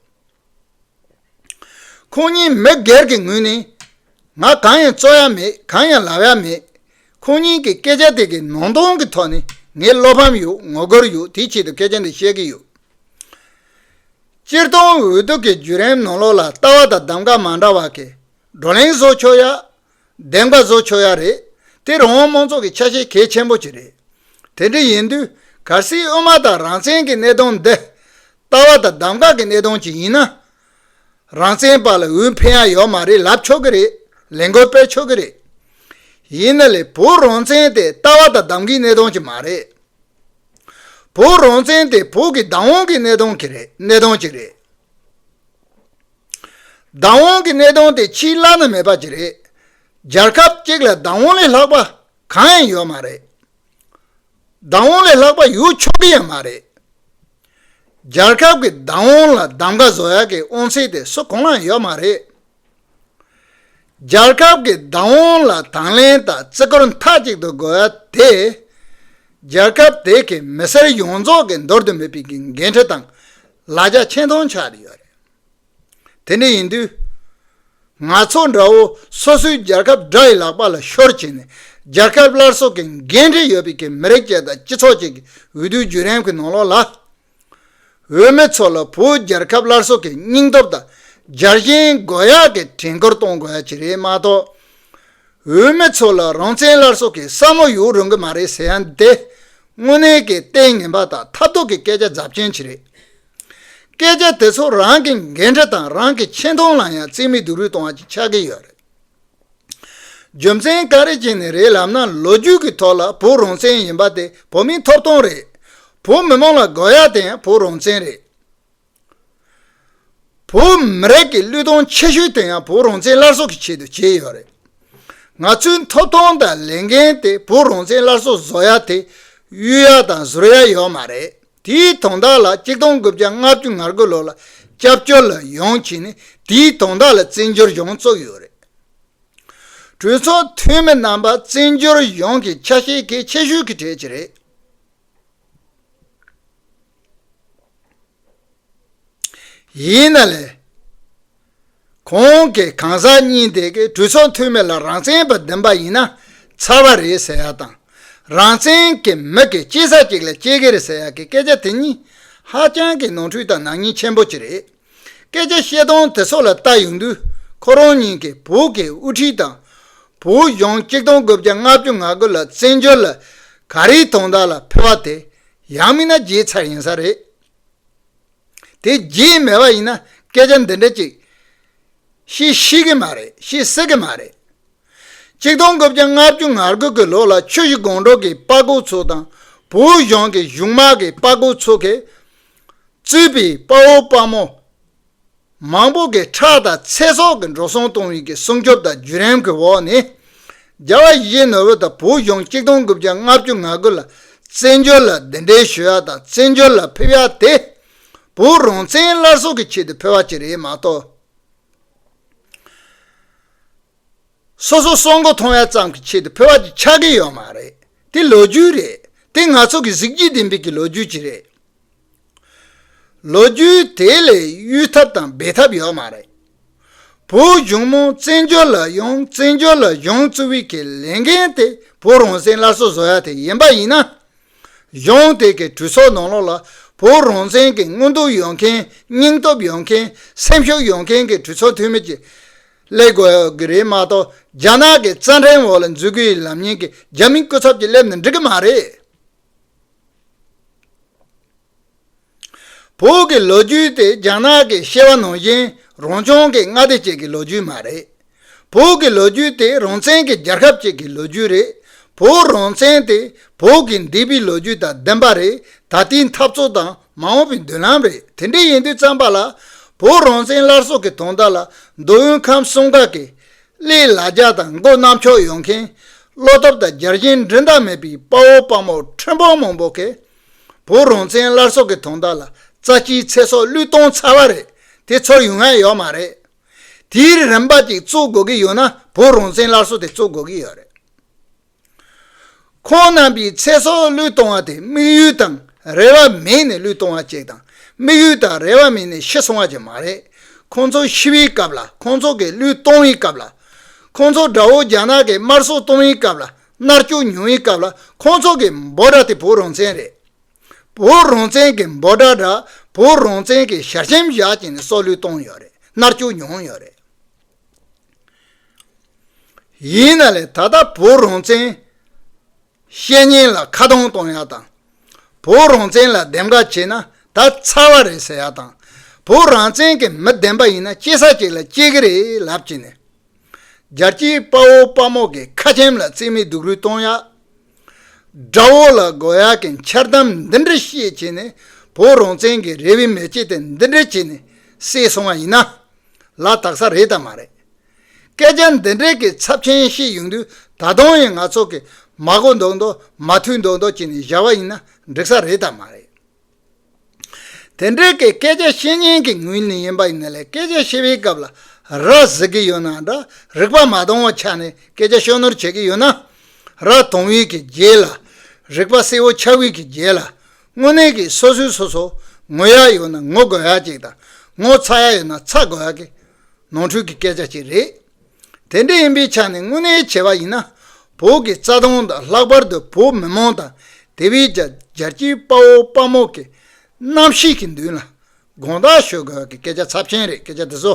ཁོང་གཉིས་མི་སྒེར་གྱི་ངོས་ནས་ང་གང་ཡང་རྩོད་ཡ་མེད་གང་ཡང་ལབ་ཡ་མེད། ཁོང་གཉིས་ཀྱི་སྐད་ཆ་དེ་གའི་ནང་དོན་གྱི་ཐོག་ནས་ངས་བློ་ཕམ་ཡོད་ངོ་རྒོལ་ཡོད་དེའི་ཆེད་དུ་སྐད་ཆ་འདི་བཤད་ཀྱི་ཡོད། སྤྱིར་བཏང་འོས་བསྡུ་གི་བརྒྱུད་རིམ་ནང་ལོགས་ལ་ལྟ་བ་དང་གདམ་ག་མ་འདྲ་བ་གིས་བགྲོ་གླེང་བཟོ་ཆོག་ཡ། བདེན་པ་བཟོ་ཆོག་ཡ་རེད། དེ་རང་དབང་མང་ཚོགས་ཀྱི་ཆ་ཤས་གལ་ཆེན་པོ་གཅིག་རེད། དེ་འདྲ་ཡིན་དུས་གལ་སྲིད་དབུ་མ་དང་རང་བཙན་གྱི་གནད་དོན་འདི། ལྟ་བ་དང་གདམ་ག་གི་གནད་དོན་གཅིག་ཡིན་ན། རང་བཙན་པ་ལ་འོས་འཕེན་ཡ་ཡོད་མ་རེད་ལབ་ཆོག་གི་རེད། ལས་འགུལ་སྤེལ་ཆོག་གི་རེད། ཡིན་ན་ལས་བོད་རང་བཙན་དེ་ལྟ་བ་དང་གདམ་གའི་གནད་དོན་གཅིག་མ་རེད། བོད་རང་བཙན་དེ་བོད་ཀྱི་བདག་དབང་གི་གནད་དོན་གཅིག་རེད། བདག་དབང་གི་གནས་སྟངས་དེ་ཕྱིའི་བླ་ན་མེད་པ་ཅིག་རེད། རྒྱལ་ཁབ་གཅིག་ལ་བདག་དབང་ལས་ལྷག་པ་གང་ཡང་ཡོད་མ་རེད། བདག་དབང་ལས་ལྷག་པ་ཡོད་ཆོག་གི་ཡང་མ་རེད། རྒྱལ་ཁབ་ཀྱི་བདག་དབང་ལ་གདམ་ཀ་བཟོ་ཡག་གི་དབང་ཚད་དེ་སུ་གང་ལའང་ཡོད་མ་རེད། རྒྱལ་ཁབ་ཀྱི་བདག་དབང་ལ་དང་ལེན་དང་བརྩི་བཀུར་མཐའ་གཅིག་ཏུ་དགོས་ཡ་དེ། རྒྱལ་ཁབ་དེ་གའི་མི་སེར་ཡོངས་རྫོགས་ཀྱི་འདོར་དུ་མེད་པའི་འགན་འཁྲི་དང་ལ་རྒྱ་ཆེན་གཏོང་འཆར་ཡོད་རེད། དེ་འདྲ་ཡིན་དུས། ང་ཚོ་འདྲ་བོ་སོ་སོའི་རྒྱལ་ཁབ་དགྲ་ཡི་ལག་པ་ལ་ཤོར་བྱས་ནས་རྒྱལ་ཁབ་སླར་གསོ་གི་འགན་འཁྲི་ཡོད་པའི་གི་མི་རིགས་བཅས་དང་སྤྱི་ཚོགས་བཅས་ཀྱི་འོས་བསྡུའི་བརྒྱུད་རིམ་གྱི་ནང་ལོགས་ལ། བོད་མི་ཚོ་ལ་བོད་རྒྱལ་ཁབ་སླར་གསོ་གི་སྙིང་སྟོབས་དང་སྦྱར་བཞིན་དགོས་ཡག་གི་དྲན་སྐུལ་གཏོང་དགོས་ཡ་གྱི་རེད་མ་གཏོགས། བོད་མི་ཚོ་ལ་རང་བཙན་སླར་གསོ་གི་བསམ་བློ་ཡོད་རུང་གི་མ་རེད་ཟེར་ཡ་འདི་དངོས་གནས་ཀྱི་ལྟས་ངན་པ་དང་ཐབས་སྡུག་གི་སྐད་ཆ་རྫབ་ཆེན་ཞིག་རེད། སྐད་ཆ་དེ་ཚོ་རང་གི་འགན་འཁྲི་དང་རང་གི་ཆེ་མཐོང་ལ་ཡང་རྩིས་མེད་སྡུག་རུས་གཏོང་བ་ཞིག་ཆགས་ཀྱི་ཡོད་རེད། རྒྱུ་མཚན་ག་རེ་བྱས་ནས་རེད་ལབ་ན་ལོ་རྒྱུས་ཀྱི་ཐོག་ལ་བོད་རང་བཙན་ཡིན་པ་དེ་བོད་མིའི་ཐོབ་ཐང་རེད། བོད་མི་མང་ལ་དགོས་ཡ་དེ་ཡང་བོད་རང་བཙན་རེད། བོད་མི་རིགས་ཀྱི་གླུད་གཏོང་ཆེ་ཤོས་དེ་ཡང་བོད་རང་བཙན་སླར་གསོ་གི་ཆེད་དུ་བྱས་ཡོད་རེད། ང་ཚོའི་ཐོབ་ཐང་དང་ལས་འགན་དེ་བོད་རང་བཙན་སླར་གསོ་བཟོ་ཡ་དེ་གཡུལ་ཡ་དང་གཟུར་ཡ་ཡོད་མ་རེད་དེའི་དོན་དག་ལ་གཅིག་སྟོང་དགུ་བརྒྱ་ལྔ་བཅུ་ང་དགུ་ལོ་ལ་སྐྱབས་བཅོལ་ལ་ཡོང་བྱས་ནས་དེའི་དོན་དག་ལ་བཙན་བྱོལ་གཞུང་བཙུགས་ཡོད་རེད། གྲོས་ཚོགས་འཐུས་མི་རྣམ་པ་བཙན་བྱོལ་གཞུང་གི་ཆ་ཤས་གལ་ཆེ་ཤོས་ཀྱི་གྲས་ཀྱི་རེད། ཡིན་ན་ལས། གོང་གི་གང་ཟག་གཉིས་དེ་གའི་གྲོས་ཚོགས་འཐུས་མི་ལ་རང་བཙན་པ་འདེམས་པ་ཡིན་ན་ཚར་བ་རེད་ཟེར་ཡག་དང་རང་བཙན་གྱི་མི་གི་སྐྱེས་ས་གཅིག་ལ་སྐྱེས་ཀྱི་རེད་ཟེར་ཡག་གི་སྐད་ཆ་དེ་གཉིས་ཧ་ཅང་གི་ནོར་འཁྲུལ་དང་ནག་ཉེས་ཆེན་པོ་གཅིག་རེད། སྐད་ཆ་བཤད་སྟངས་དེ་སོགས་ལ་བལྟ་ཡོང་དུས་ཁོ་རང་ཉིད་ཀྱི་བོད་ཀྱི་དབུ་ཁྲིད་དང། བོད་གཞུང་གཅིག་སྟོང་དགུ་བརྒྱ་ལྔ་བཅུ་ང་དགུ་ལ་བཙན་བྱོལ་ལ་ག་རེའི་དོན་དག་ལ་ཕེབས་པ་དེ་ཡང་མིན་ན་བརྗེད་ཚར་ཡིན་ས་རེད། དེ་བརྗེད་མེད་པ་ཡིན་ན་སྐད་ཆ་འདི་འདྲ་ཅིག་བཤད་ཤེས་ཀྱི་མ་རེད་བཤད་སྲིད་ཀྱི་མ་རེད། གཅིག་སྟོང་དགུ་བརྒྱ་ལྔ་བཅུ་ང་དགུ་གི་ལོ་ལ་ཆོས་གཞི་དགོང་དྲོ་གི་དཔའ་རྒོད་ཚོ་དང་བོད་གཞུང་གི་གཞུང་དམག་གི་དཔའ་རྒོད་ཚོ་གིས་རྩོད་པའི་དཔའ་བོ་དཔའ་མོ་མང་པོ་གི་ཁྲག་དང་ཚེ་སྲོག་གི་འགྲོ་སོང་གཏོང་བའི་གི་སྲུང་སྐྱོབ་དང་བརྒྱུད་རིམ་གི་འོག་ནས། རྒྱ་བལ་གཞིས་བྱེས་ནོར་བུ་དང་བོད་གཞུང་གཅིག་སྟོང་དགུ་བརྒྱ་ལྔ་བཅུ་ང་དགུ་ལ་བཙན་བྱོལ་ལ་འདི་འདྲའི་ཞུ་ཡག་དང་བཙན་བྱོལ་ལ་ཕེབས་ཡག་དེ། བོད་རང་བཙན་སླར་གསོ་གི་ཆེད་དུ་ཕེབས་བ་གཅིག་རེད་མ་གཏོགས། སོ་སོ་སྲོག་མགོ་ཐོང་བ་ཙམ་གྱི་ཆེད་དུ་ཕུལ་བ་དེ་ཆགས་ཀྱི་ཡོད་མ་རེད་དེ་ལོ་རྒྱུས་རེད་དེ་ང་ཚོ་གི་གཟིགས་རྒྱུ་ལྡན་པའི་གི་ལོ་རྒྱུས་ཅིག་རེད་ལོ་རྒྱུས་དེ་ལས་གཡུལ་ཐབས་དང་འབད་ཐབས་ཡོད་མ་རེད་བོད་གཞུང་མོ་བཙན་བྱོལ་ལ་ཡོང་བཙན་བྱོལ་ལ་བཞུང་བཙུ་བའི་གི་ལས་འགན་དེ་བོད་རང་བཙན་སླར་གསོ་བཟོ་ཡ་དེ་ཡིན་པ་ཡིན་ན་གཞུང་དེ་གི་གྲོས་ཚོགས་ནང་ལོགས་ལ་བོད་རང་བཙན་གི་དངོས་འདུག་ཡོང་མཁན་སྙིང་སྟོབས་ཡོང་མཁན་སེམས་ཤུགས་ཡོང་མཁན་གི་གྲོས་ཚོགས་འཐུས་མི་གི་སླེབས་དགོས་ཀྱི་རེད་མ་གཏོགས་རྒྱ་ནག་གི་རྩ་འགྲེལ་འོག་ལ་འཛུལ་དགོས་ཡི་ལམ་ཡིན་གི་རྒྱ་མི་སྐུ་ཚབ་ཀྱི་སླེབས་ནས་འགྲིག་གི་མ་རེད། བོད་ཀྱི་ལོ་རྒྱུས་དེ་རྒྱ་ནག་གི་ཤེས་བ་ནང་བཞིན་རང་བྱུང་གི་མངའ་སྡེ་གཅིག་གི་ལོ་རྒྱུས་མ་རེད། བོད་ཀྱི་ལོ་རྒྱུས་དེ་རང་བཙན་གྱི་རྒྱལ་ཁབ་ཅིག་གི་ལོ་རྒྱུས་རེད། བོད་རང་བཙན་དེ་བོད་ཀྱི་འདས་པའི་ལོ་རྒྱུས་དང་ལྡན་པ་རེད་ད་ལྟའི་འཐབ་རྩོད་དང་མ་འོངས་པའི་མདུན་ལམ་རེད་དེ་འདྲའི་ཡིན་དུས་བརྩམས་པ་ལ། བོད་རང་བཙན་སླར་གསོ་གི་དོན་དག་ལ་མདོ་དབུས་ཁམས་གསུམ་དག་གི། ཀླད་ལ་རྒྱ་དང་མགོ་གནམ་ཕྱོགས་ཡོང་མཁན། བློ་སྟོབས་དང་རྒྱལ་ཞེན་འགྲན་ཟླ་མེད་པའི་དཔའ་བོ་དཔའ་མོ་ཁྲོན་པོ་མང་པོ་གིས། བོད་རང་བཙན་སླར་གསོ་གི་དོན་དག་ལ་རྩ་ཆེའི་ཚེ་སྲོག་བླུད་གཏོང་ཚར་བ་རེད་དེ་ཚོར་ཡུན་ཧ་ཡོད་མ་རེད། དེའི་རིན་པ་ཅིག་བཙུགས་དགོས་ཀྱི་ཡོད་ན་བོད་རང་བཙན་སླར་གསོ་དེ་བཙུགས་དགོས་ཀྱི་ཡོད་རེད། ཁོང་རྣམ་པའི་ཚེ་སྲོག་བློས་གཏོང་བ་དེ་དམིགས་ཡུལ་དང་རེ་བ་མེད་ནས་བློས་གཏོང་བ་བཅས་དང་དམིགས་ཡུལ་དང་རེ་བ་མེད་ནས་ཤི་སོང་བ་བཅས་མ་རེད། ཁོང་ཚོ་ཤི་བའི་སྐབས་ལ་ཁོང་ཚོ་གིས་བློས་གཏོང་བའི་སྐབས་ལ། ཁོང་ཚོ་དགྲ་བོ་རྒྱ་ནག་གིས་དམར་གསོད་གཏོང་བའི་སྐབས་ལ་མནར་གཅོད་མྱོང་བའི་སྐབས་ལ་ཁོང་ཚོ་གི་འབོད་སྒྲ་དེ་བོད་རང་བཙན་རེད། བོད་རང་བཙན་གྱི་འབོད་སྒྲ་འདྲ་བོད་རང་བཙན་གྱི་ཞལ་ཆེམས་བཞག་ཅིང་སྲོག་བློས་གཏོང་ཡོད་རེད་མནར་གཅོད་མྱོང་ཡོད་རེད། ཡིན་ན་ལས་ད་ལྟ་བོད་རང་བཙན་བཤད་ཉེན་ལ་ཁ་གདངས་གཏོང་ཡག་དང། བོད་རང་བཙན་ལ་འདེམས་ཀ་བྱེད་ན་ད་ཚར་བ་རེད་ཟེར་ཡག་དང། བོད་རང་བཙན་གྱི་མི་བདེན་པ་ཡིན་ན་སྐྱེ་ས་གཅིག་ལ་སྐྱེ་གི་རེད་ལབ་ཀྱི་ནས། རྒྱལ་སྤྱིའི་དཔའ་བོ་དཔའ་མོ་གི་ཁ་ཆེམས་ལ་རྩིས་མེད་སྡུག་རུས་གཏོང་ཡག། དགྲ་བོ་ལ་དགོ་ཡག་གི་འཆལ་གཏམ་འདི་འདྲ་བཤད་བྱས་ནས་བོད་རང་བཙན་གྱི་རེ་བའི་མེ་ལྕེ་དེ་འདི་འདྲ་བྱས་ནས་བསྲེགས་སོང་བ་ཡིན་ན། ལ་དྭགས་ས་རེད་དམ་མ་རེད། སྐད་ཆ་འདི་འདྲའི་གི་ཚབ་ཆེན་བཤད་ཡོང་དུས་ད་དུང་ཡང་ང་ཚོ་གི་མ་གོ་མདོག་མདོག་མ་ཐུལ་མདོག་མདོག་བྱེད་ནས་བཞག་པ་ཡིན་ན་འགྲིག་ས་རེད་དམ་མ་རེད། དེ་འདྲའི་གི་སྐད་ཆ་བཤད་ཉན་གི་ངོས་ནས་ཡིན་པ་ཡིན་ན་ལས་སྐད་ཆ་བཤད་པའི་སྐབས་ལ་ར་བཟི་གི་ཡོད་ན་འདྲ་རིག་པ་མ་དོང་བ་ཆགས་ནས་སྐད་ཆ་ཤོ་ནོར་བྱེད་གི་ཡོད་ན་ར་དོང་བས་གི་རྗེས་ལ་རིག་པ་གསལ་བོ་ཆགས་བས་གི་རྗེས་ལ་དངོས་གནས་ཀྱིས་སོ་སོའི་སོ་སོ་ངོ་ཡག་ཡོད་ན་ངོ་དགོད་ཡག་ཅིག་དང་ངོ་ཚ་ཡག་ཡོད་ན་ཚ་དགོད་ཡག་གི་ནོར་འཁྲུལ་གྱི་སྐད་ཆ་ཅིག་རེད། དེ་འདྲ་ཡིན་པའི་ཆ་ནས་དངོས་གནས་བྱས་པ་ཡིན་ན་བོད་ཀྱི་རྩ་དོན་དང་ལྷག་པར་དུ་བོད་མི་མང་དང་དེ་བས་ཀྱང་རྒྱལ་སྤྱིའི་དཔའ་བོ་དཔའ་མོ་གི་རྣམ་ཤེས་ཀྱི་མདུན་ལ་དགོངས་དག་ཞུ་དགོས་ཡག་གི་སྐད་ཆ་ཚབས་ཆེན་རེད་སྐད་ཆ་འདི་ཚོ།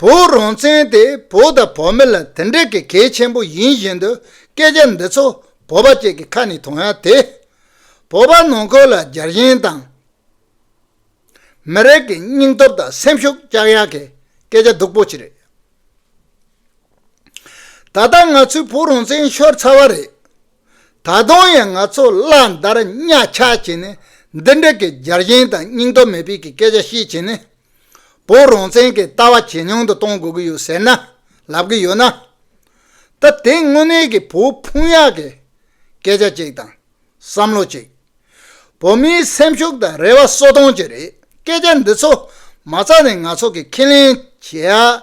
བོད་རང་བཙན་དེ་བོད་དང་བོད་མི་ལ་དེ་འདྲ་གི་གལ་ཆེན་པོ་ཡིན་བཞིན་དུ་སྐད་ཆ་འདི་ཚོ་བོད་པ་གཅིག་གི་ཁ་ནས་ཐོན་ཡག་དེ། བོད་པ་ནང་ཁུལ་ལ་རྒྱལ་ཞེན་དང། མི་རིགས་ཀྱི་སྙིང་སྟོབས་དང་སེམས་ཤུགས་བཅག་ཡག་གི་སྐད་ཆ་སྡུག་པོ་ཅིག་རེད། ད་ལྟ་ང་ཚོའི་བོད་རང་བཙན་ཤོར་ཚར་བ་རེད། ད་དུང་ཡང་ང་ཚོ་གླང་དར་གཉའ་ཆག་བྱས་ནས་འདི་འདྲ་གི་རྒྱལ་ཞེན་དང་སྙིང་སྟོབས་མེད་པའི་གི་སྐད་ཆ་བཤད་བྱས་ནས། བོད་རང་བཙན་གི་ལྟ་བ་ཇེ་ཉུང་དུ་གཏོང་དགོས་གི་ཡོད་ཟེར་ན་ལབ་གི་ཡོད་ན། ད་དེ་དངོས་གནས་གི་བོད་ཕུང་ཡག་གི་སྐད་ཆ་ཅིག་དང་བསམ་བློ་ཅིག། བོད་མིའི་སེམས་ཤུགས་དང་རེ་བ་གསོ་སྟོང་ཅིག་རེད་སྐད་ཆ་འདི་ཚོ་མ་ཚར་ནས་ང་ཚོ་གི་ཁས་ལེན་བྱེད་ཡག་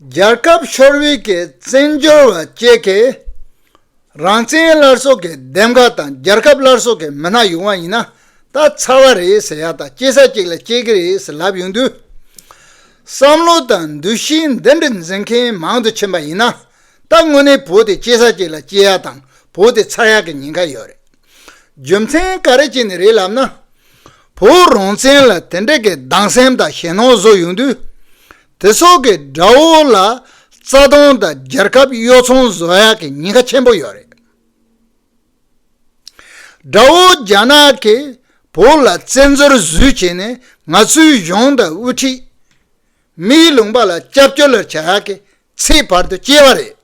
རྒྱལ་ཁབ་ཤོར་བའི་བཙན་བྱོལ་བ་བཅས་ཀྱི་རང་བཙན་སླར་གསོ་གི་འདེམས་ཀ་དང་རྒྱལ་ཁབ་སླར་གསོ་གི་མི་སྣ་ཡོང་བ་ཡིན་ན་ད་ཚར་བ་རེད་ཟེར་ཡག་དང་སྐྱེ་ས་གཅིག་ལ་སྐྱེ་གི་རེད་ཟེར་ལབ་ཡོང་དུས། བསམ་བློ་དང་འདུ་ཤེས་འདི་འདྲ་འཛིན་མཁན་མང་དུ་ཕྱིན་པ་ཡིན་ན་ད་དངོས་གནས་བོད་དེ་སྐྱེ་ས་གཅིག་ལ་སྐྱེ་ཡག་དང་བོད་དེ་ཚར་ཡག་གི་ཉེན་ཁ་ཡོད་རེད། རྒྱུ་མཚན་ག་རེ་བྱས་ནས་རེད་ལབ་ན། བོད་རང་བཙན་ལ་དེ་འདྲ་གི་སྡང་སེམས་དང་ཞེ་སྣང་བཟོ་ཡོང་དུས། དེ་སོགས་ཀྱི་དགྲ་བོ་ལ་རྩ་སྟོང་དང་རྒྱལ་ཁབ་གཡོ་ཚོང་བཟོ་ཡག་གི་ཉེན་ཁ་ཆེན་པོ་ཡོད་རེད། དགྲ་བོ་རྒྱ་ནག་གི་བོད་ལ་བཙན་འཛུལ་བཟོས་བྱས་ནས་ང་ཚོའི་གཞུང་དང་དབུ་ཁྲིད། མིའི་ལུང་པ་ལ་སྐྱབས་བཅོལ་ལར་བྱ་ཡག་གི་ཚེའི་བར་དུ་སྐྱེ་བ་རེད།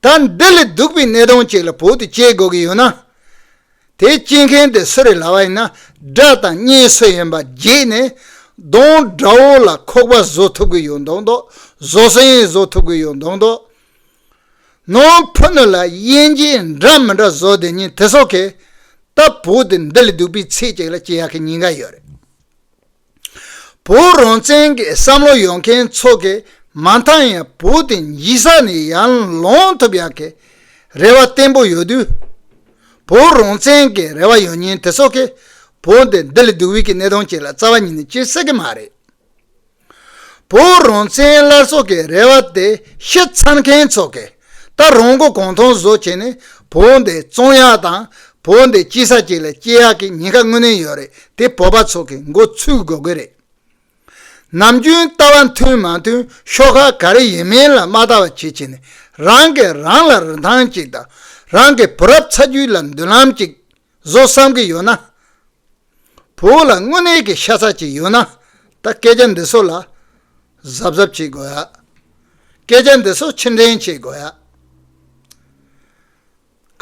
ད་འདི་ལས་སྡུག་པའི་གནས་སྟངས་ཅིག་ལ་བོད་དུ་སྐྱེ་དགོས་ཀྱི་ཡོད་ན། དེ་སྐྱེ་མཁན་དེ་སུ་རེད་ལབ་པ་ཡིན་ན་དགྲ་དང་གཉེན་སུ་ཡིན་པ་བརྗེད་ནས། གདོང་དགྲ་བོ་ལ་ཁོག་པ་བཟོ་ཐུབ་ཀྱི་ཡོད་མདོག་མདོག་བཟོ་སའི་ཡིན་བཟོ་ཐུབ་ཀྱི་ཡོད་མདོག་མདོག། ནང་ཕུ་ནུ་ལ་དབྱེ་འབྱེད་འདྲ་མི་འདྲ་བཟོ་དེ་ཉིན་དེ་སོག་གི། ད་བོད་དུ་འདི་ལས་སྡུག་པའི་ཚེ་ཅིག་ལ་སྐྱེ་ཡག་གི་ཉེན་ཁ་ཡོད་རེད། བོད་རང་བཙན་གྱི་བསམ་བློ་ཡོད་མཁན་ཚོ་གིས་མ་མཐའ་ཡང་བོད་དེ་ཡིད་ས་ནས་ཡར་ལོངས་ཐུབ་ཡག་གི་རེ་བ་བརྟན་པོ་ཡོད་དུས། བོད་རང་བཙན་གྱི་རེ་བ་ཡོད་མཁན་དེ་ཚོ་གིས་བོད་འདི་ལྡི་ལི་སྡུག་དབུས་ཀྱི་གནས་སྟངས་བཅས་ལ་རྩ་བ་ཉིད་ནས་སྐྱེལ་སྲིད་ཀྱི་མ་རེད། བོད་རང་བཙན་སླར་གསོ་གི་རེ་བ་དེ་ཤི་ཚར་མཁན་ཚོ་གིས་ད་རུང་མགོ་གོང་མཐོང་བཟོ་བྱས་ནས་བོད་འདི་བཙོང་ཡག་དང་བོད་འདི་སྐྱིད་ས་ཅིག་ལ་སྐྱེལ་ཡག་གི་ཉེན་ཁ་དངོས་གནས་ཡོད་རེད་དེ་བོད་པ་ཚོ་གི་མགོ་ཚུགས་དགོས་གི་རེད། ནམ་རྒྱུན་ལྟ་བ་མཐུན་མ་མཐུན་ཤོག་ཁག་ག་རེ་ཡིན་མིན་ལ་མ་ལྟ་བ་བྱེད་བྱེད་ནས་རང་གི་རང་ལ་རིན་ཐང་ཅིག་དང་རང་གི་བུ་རབས་ཚ་རྒྱུད་ལ་མདུན་ལམ་ཅིག་བཟོ་བསམ་གི་ཡོད་ན། བུ་ལ་དངོས་གནས་ཀྱི་ཤ་ཚ་ཅིག་ཡོད་ན་ད་སྐད་ཆ་འདི་ཚོ་ལ་གཟབ་གཟབ་བྱེད་དགོས། སྐད་ཆ་འདི་ཚོ་ཕྱིར་འདྲེན་བྱེད་དགོས།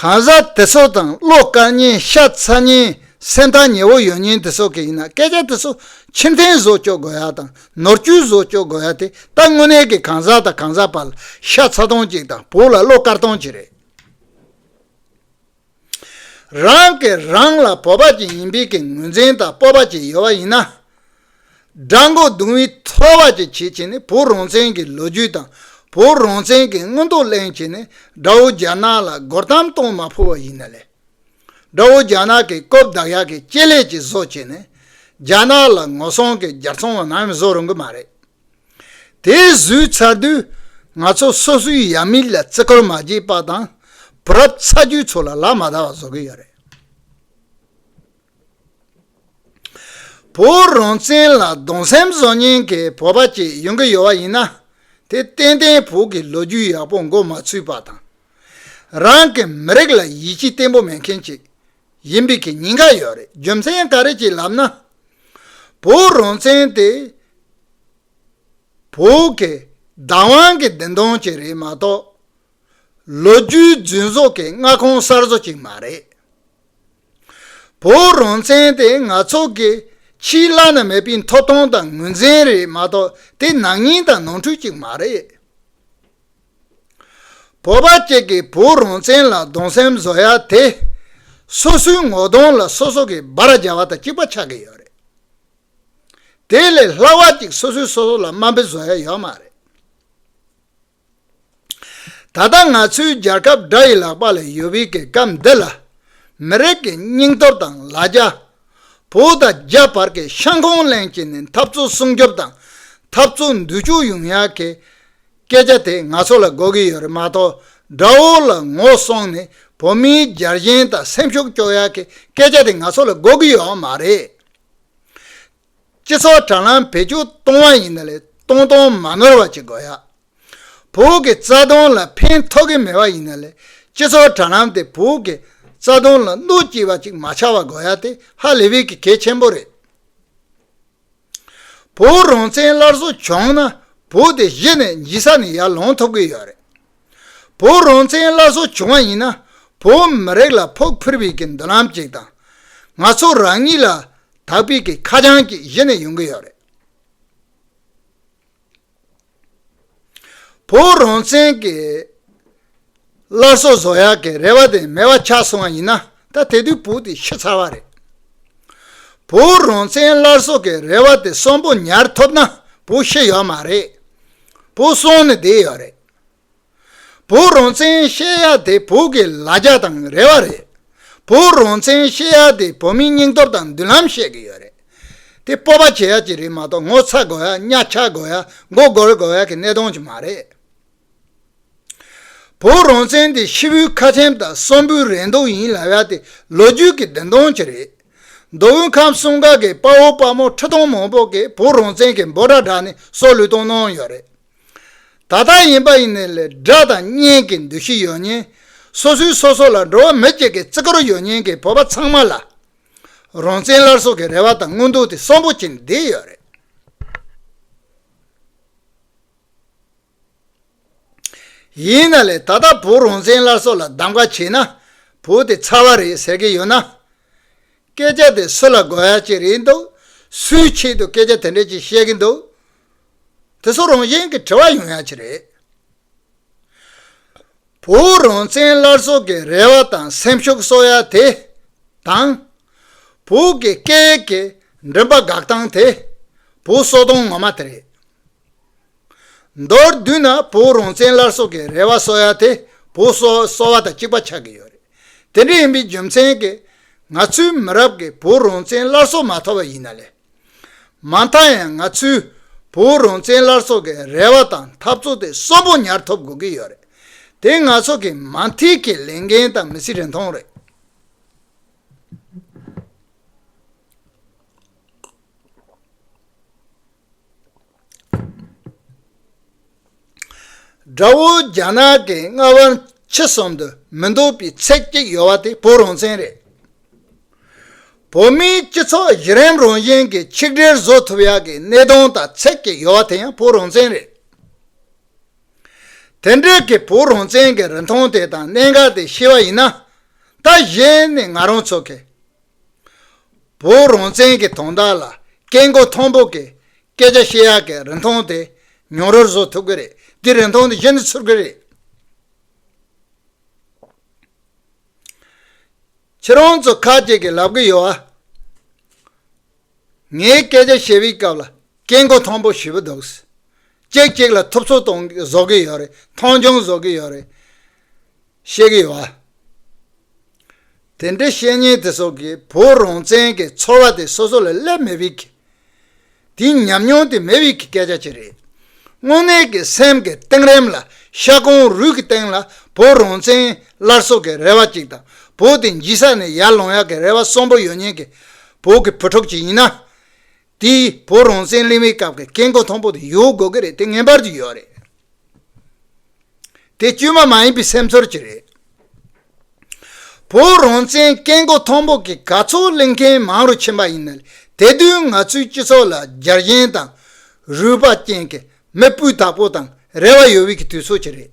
གང་ཟག་དེ་ཚོ་དང་བློ་དཀར་སྙན་ཤ་ཚ་སྙན་སེམས་ཐག་ཉེ་བོ་ཡོད་སྙན་དེ་ཚོ་གི་ཡིན་ན་སྐད་ཆ་དེ་ཚོ་ཕྱིར་འཐེན་བཟོ་བཅོག་དགོས་ཡ་དང་ནོར་བཅུད་བཟོ་བཅོག་དགོས་ཡ་དེ་ད་དངོས་གནས་ཀྱི་གང་ཟག་དང་གང་ཟག་བར་ལ་ཤ་ཚ་སྟོང་ཅིག་དང་བུ་ལ་བློ་དཀར་སྟོང་ཅིག་རེད། རང་གིས་རང་ལ་བོད་པ་ཅིག་ཡིན་པའི་ཀྱི་ངོས་འཛིན་དང་སྤོབས་པ་ཅིག་ཡོད་པ་ཡིན་ན། དགྲ་མགོ་རྡུང་བའི་ཚོར་བ་ཅིག་བྱེད་ཅེས་ནི་བོད་རང་བཙན་གྱི་ལོ་རྒྱུས་དང་བོད་རང་བཙན་གྱི་མངོན་རྟོགས་གླེང་ཅེས་ནི་དགྲ་བོ་རྒྱ་ནག་ལ་སྒོར་གཏམ་གཏོང་མ་ཕོད་པ་ཡིན་ན་ལེ། དགྲ་བོ་རྒྱ་ནག་གིས་རྐུབ་བདག་ཡག་གི་སྤྱི་ལས་ཀྱི་བཟོ་ཅེས་ནི་རྒྱ་ནག་ལ་ངོ་སྲུང་གི་རྒྱར་ཚོང་བ་ནམ་བཟོ་རུང་གི་མ་རེད། དེ་བཟོས་ཚར་དུས་ང་ཚོ་སོ་སོའི་ཡབ་མེས་ལ་བརྩི་བཀུར་མ་བྱས་པ་དང་བུ་རབས་ཚ་རྒྱུད་ཚོ་ལ་ལག་མ་བརྡ་བ་བཟོ་གི་ཡོད་རེད། བོད་རང་བཙན་ལ་གདུང་སེམས་བཟོ་མཁན་གྱི་བོད་པ་གཅིག་ཡོང་གི་ཡོད་པ་ཡིན་ན་དེ་ཏན་ཏན་བོད་ཀྱི་ལོ་རྒྱུས་ཡག་པོ་མགོ་མ་ཚུད་པ་དང་རང་གི་མི་རིགས་ལ་ཡིད་ཆེས་བརྟན་པོ་མེད་མཁན་གཅིག་ཡིན་པའི་གི་ཉེན་ཁ་ཡོད་རེད་རྒྱུ་མཚན་ག་རེད་ཅེས་ལབ་ན། བོད་རང་བཙན་དེ་བོད་ཀྱི་བདག་དབང་གི་བདེན་དོན་གཅིག་རེད་མ་གཏོགས། ལོ་རྒྱུས་རྫུན་བཟོ་གི་མངའ་ཁོངས་གསར་བཟོ་གཅིག་མ་རེད། བོད་རང་བཙན་དེ་ང་ཚོ་གི་ཕྱིའི་བླ་ན་མེད་པའི་མཐོ་གཏོང་དང་ངོས་འཛིན་རེད་མ་གཏོགས་དེ་ནག་ཉེས་དང་ནོར་འཁྲུལ་གཅིག་མ་རེད། བོད་པ་གཅིག་གིས་བོད་རང་བཙན་ལ་གདུང་སེམས་བཟོ་ཡ་དེ། སོ་སོའི་ངོ་གདོང་ལ་སོ་སོ་གིས་སྦར་རྒྱག་པ་དང་གཅིག་པ་ཆགས་ཀྱི་ཡོད་རེད། དེ་ལས་སླ་བ་གཅིག་སོ་སོས་སོ་སོ་ལ་དམའ་འབེབས་བཟོ་ཡ་ཡོད་མ་རེད། ད་ལྟ་ང་ཚོའི་རྒྱལ་ཁབ་དགྲ་ཡི་ལག་པ་ལས་ཡོལ་བའི་གི་སྐབས་འདི་ལ། མི་རིགས་ཀྱི་སྙིང་སྟོབས་དང་ལ་རྒྱ། བོད་དང་རྒྱ་བར་གྱི་ཤང་ཁོང་གླེང་བྱེད་ནས་འཐབ་རྩོད་སྲུང་སྐྱོབ་དང་འཐབ་རྩོད་འདུལ་སྐྱོབ་ཡོང་ཡ་གི། སྐད་ཆ་དེ་ང་ཚོ་ལ་གོ་གི་ཡོད་རེད་མ་གཏོགས་དགྲ་བོ་ལ་ངོ་སོང་ནས་བོད་མིའི་རྒྱ་གཞེན་དང་སེམས་ཤུགས་སྐྱོ་ཡག་གི་སྐད་ཆ་དེ་ང་ཚོ་ལ་གོ་གི་ཡོད་མ་རེད། སྤྱི་ཚོགས་དྲ་ལམ་བེད་སྤྱོད་གཏོང་བ་ཡིན་ན་ལས་གཏོང་གཏོང་མ་ནོར་བ་བྱེད་དགོས་ཡ། བོད་ཀྱི་རྩ་དོན་ལ་ཕན་ཐོགས་གི་མེད་པ་ཡིན་ན་ལས་སྤྱི་ཚོགས་དྲ་ལམ་དེ་བོད་ཀྱི་རྩ་དོན་ལ་གནོད་སྐྱིལ་བ་ཅིག་མ་ཆགས་བ་དགོས་ཡ་དེ་ཧ་ལེ་བེ་གི་གལ་ཆེན་པོ་རེད། བུ་རང་བཙན་སླར་གསོ་བྱུང་ན་བུ་དེ་གཞི་ནས་འཇིག་ས་ནས་ཡར་ལངས་ཐུབ་གི་ཡོད་རེད། བུ་རང་བཙན་སླར་གསོ་བྱུང་བ་ཡིན་ན་བོད་མི་རིགས་ལ་ཕུགས་འཕེར་བའི་གི་མདུན་ལམ་ཅིག་དང། ང་ཚོ་རང་ཉིད་ལ་དག་པའི་གི་ཁ་བྱང་ཅིག་གཞི་ནས་ཡོང་གི་ཡོད་རེད། བོད་རང་བཙན་གྱི་སླར་གསོ་བཟོ་ཡག་གི་རེ་བ་དེ་མེད་པ་ཆགས་སོང་བ་ཡིན་ན་ད་དེ་དུས་བོད་དེ་ཤི་ཚར་བ་རེད། བོད་རང་བཙན་སླར་གསོ་གི་རེ་བ་དེ་གསོན་པོ་ཉར་ཐུབ་ན་བོད་ཤི་ཡོད་མ་རེད། བོད་སོང་ནི་བསྡད་ཡོད་རེད། བོད་རང་བཙན་བཤད་ཡ་དེ་བོད་ཀྱི་ལ་རྒྱ་དང་རེ་བ་རེད། བོད་རང་བཙན་བཤད་ཡ་དེ་བོད་མིའི་སྙིང་སྟོབས་དང་མདུན་ལམ་བཤད་གི་ཡོད་རེད། དེ་སྤོབས་པ་བྱེད་ཡ་གྱི་རེད་མ་གཏོགས་ངོ་ཚ་དགོས་ཡ་གཉའ་ཆག་དགོས་ཡ་མགོ་སྒུར་དགོས་ཡ་གི་གནས་སྟངས་ཅིག་མ་རེད། བོད་རང་བཙན་དེ་ཕྱི་བོའི་ཁ་ཆེམས་དང་གསང་བོའི་རེ་འདོད་ཡིན་ལབ་ཡ་དེ་ལོ་རྒྱུས་ཀྱི་བདེན་དོན་ཅིག་རེད། མདོ་དབུས་ཁམས་གསུམ་ག་གི་དཔའ་བོ་དཔའ་མོ་ཁྲི་སྟོང་མང་པོ་གིས་བོད་རང་བཙན་གྱི་འབོད་སྒྲ་བསྒྲགས་ནས་སྲོག་ལུས་གཏོང་གནང་ཡོད་རེད། ད་ལྟ་ཡིན་པ་ཡིན་ནས་ལས་དགྲ་དང་གཉེན་གྱི་འདུ་ཤེས་ཡོད་ཉེན། སོ་སོའི་སོ་སོ་ལ་འགྲོ་བ་མི་གཅིག་གི་བརྩི་བཀུར་ཡོད་ཉེན་གྱི་བོད་པ་ཚང་མ་ལ། རང་བཙན་སླར་གསོ་གི་རེ་བ་དང་དངུལ་འདུག་དེ་གསོན་པོ་བྱེད་འདོད་ཡོད་རེད། ཡིན་ན་ལས་ད་ལྟ་བོད་རང་བཙན་སླར་གསོ་ལ་གདམ་ག་བྱས་ན་བོད་དེ་ཚར་བ་རེད་ཟེར་གྱི་ཡོད་ན། སྐད་ཆ་དེ་སུ་ལ་དགོས་ཡ་གཅིག་རེད་འདུག་སུའི་ཆེད་དུ་སྐད་ཆ་དེ་འདྲ་གཅིག་བཤད་གི་འདུག་དེ་ཚོ་རང་བཞིན་གྱི་དྲི་བ་ཡང་ཡང་བྱེད་རེད། བོད་རང་བཙན་སླར་གསོ་གི་རེ་བ་དང་སེམས་ཤུགས་གསོ་ཡ་དེ་དང། བོད་ཀྱི་སྐད་ཡིག་གི་མགྲིན་པ་འགག་སྟངས་དེ་བོད་གསོ་སྟངས་ངོ་མ་དེ་རེད། མདོར་བསྡུས་ན་བོད་རང་བཙན་སླར་གསོ་གི་རེ་བ་གསོ་ཡ་དེ་བོད་གསོ་གསོ་བ་དང་གཅིག་པ་ཆགས་ཀྱི་ཡོད་རེད། དེ་འདྲ་ཡིན་པའི་རྒྱུ་མཚན་གྱིས་ང་ཚོའི་མི་རབས་ཀྱིས་བོད་རང་བཙན་སླར་གསོ་མ་ཐོབ་པ་ཡིན་ན་ལས། མ་མཐའ་ཡང་ང་ཚོས་བོད་རང་བཙན་སླར་གསོ་གི་རེ་བ་དང་འཐབ་རྩོད་དེ་གསོན་པོ་ཉར་ཐོབ་དགོས་ཀྱི་ཡོད་རེད། དེ་ང་ཚོ་གི་མ་མཐའི་ཀྱི་ལས་འགན་དང་མི་ཚེའི་རིན་ཐང་རེད། དགྲ་བོ་རྒྱ་ནག་གི་རྔ་བ་ཁྱི་གསུམ་དུ་མི་འདུག་པའི་ཚད་ཅིག་ཡོད་པ་དེ་བོད་རང་བཙན་རེད། བོད་མིའི་སྤྱི་ཚོགས་གཞི་རིམ་རང་བཞིན་གྱི་ཆིག་སྒྲིལ་བཟོ་ཐུབ་ཡག་གི་གནས་སྟངས་དང་ཚད་ཅིག་ཡོད་པ་དེ་ཡང་བོད་རང་བཙན་རེད། དེ་འདྲའི་གི་བོད་རང་བཙན་གྱི་རིན་ཐང་དེ་དང་གནད་འགག་དེ་ཤེས་པ་ཡིན་ན། ད་གཞི་ནས་ང་རང་ཚོ་གི་བོད་རང་བཙན་གྱི་དོན་དག་ལ་སྐད་མགོ་མཐོན་པོ་གིས་སྐད་ཆ་བཤད་ཡག་གི་རིན་ཐང་དེ་ཉུང་རུ་བཟོ་ཐུབ་ཀྱི་རེད་དེ་རིན་ཐང་དེ་གཞི་ནས་ཚུར་ཀྱི་རེད། ཁྱེད་རང་ཚོ་ཁ་ཅིག་གིས་ལབ་ཀྱི་ཡོད་ཨ། ངས་སྐད་ཆ་བཤད་པའི་སྐབས་ལ་སྐད་མགོ་མཐོན་པོ་ཞུས་པ་འདུག་གཅིག་གཅིག་ལ་ཐུབ་ཚོད་བཟོ་གི་ཡོད་རེད་མཐོང་ཆུང་བཟོ་གི་ཡོད་རེད། གཤེགས་ཡོད་པ། དེ་འདྲའི་བཤེས་གཉེན་དེ་ཚོ་གིས་བོད་རང་བཙན་གྱི་ཚོར་བ་དེ་སོ་སོ་ལ་སླེབས་མེད་བི་གི། དེ་ཉམས་མྱོང་དེ་མེད་བི་གི་སྐད་ཆ་ཅི་རེད། དངོས་གནས་ཀྱི་སེམས་ཀྱི་གཏིང་རིམ་ལ་ཤ་གོང་རུས་ཀྱི་སྟེང་ལ་བོད་རང་བཙན་སླར་གསོ་གི་རེ་བ་ཅིག་དང་བོད་དེ་འཇིག་ས་ནས་ཡར་ལངས་ཡག་གི་རེ་བ་གསོན་པོ་ཡོད་ཉེན་གྱི་བོད་ཀྱི་བུ་ཕྲུག་ཅིག་ཡིན་ན། དེས་བོད་རང་བཙན་གླེང་བའི་སྐབས་ཀྱི་སྐད་མགོ་མཐོན་པོ་དེ་ཡོད་དགོས་ཀྱི་རེད་དེ་ངེས་པར་གྱི་ཡོད་རེད། དེ་དཀྱུས་མ་མ་ཡིན་པའི་སེམས་ཚོར་གྱིས་རེད། བོད་རང་བཙན་སྐད་མགོ་མཐོན་པོ་གི་ག་ཚོད་གླེང་མཁན་མང་རུ་ཕྱིན་པ་ཡིན་ན་དེ་དུས་ང་ཚོའི་སྤྱི་ཚོགས་ལ་རྒྱར་ཞེན་དང་རུས་པ་ཅན་གྱི་མི་སྤུས་དག་པོ་དང་རེ་བ་ཡོད་བའི་གི་དུས་ཚོད་ཀྱི་རེད།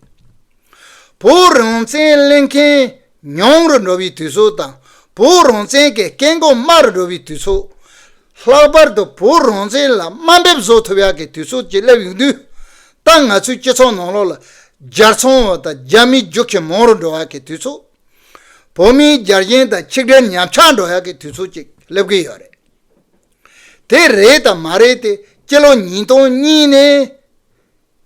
བོད་རང་བཙན་གླེང་མཁན་ཉུང་རུ་འགྲོ་བའི་དུས་ཚོད་དང་བོད་རང་བཙན་གྱི་སྐད་མགོ་དམའ་རུ་འགྲོ་བའི་དུས་ཚོད། ལྷག་པར་དུ་བོད་རང་བཙན་ལ་དམའ་འབེབས་བཟོ་ཐུབ་ཡག་གི་དུས་ཚོད་ཅིག་སླེབས་ཡོང་དུས། ད་ང་ཚོའི་སྤྱི་ཚོགས་ནང་ལོགས་ལ་རྒྱལ་ཚོང་བ་དང་རྒྱ་མིའི་རྒྱུག་ཁྱི་མང་རུ་འགྲོ་ཡག་གི་དུས་ཚོད། བོད་མིའི་རྒྱལ་ཞེན་དང་ཆིག་སྒྲིལ་ཉམས་ཆག་འགྲོ་ཡག་གི་དུས་ཚོད་ཅིག་སླེབས་ཀྱི་ཡོད་རེད། དེ་རེད་དང་མ་རེད་དེ་སྤྱི་ལོ་ཉིས་སྟོང་གཉིས་ནས་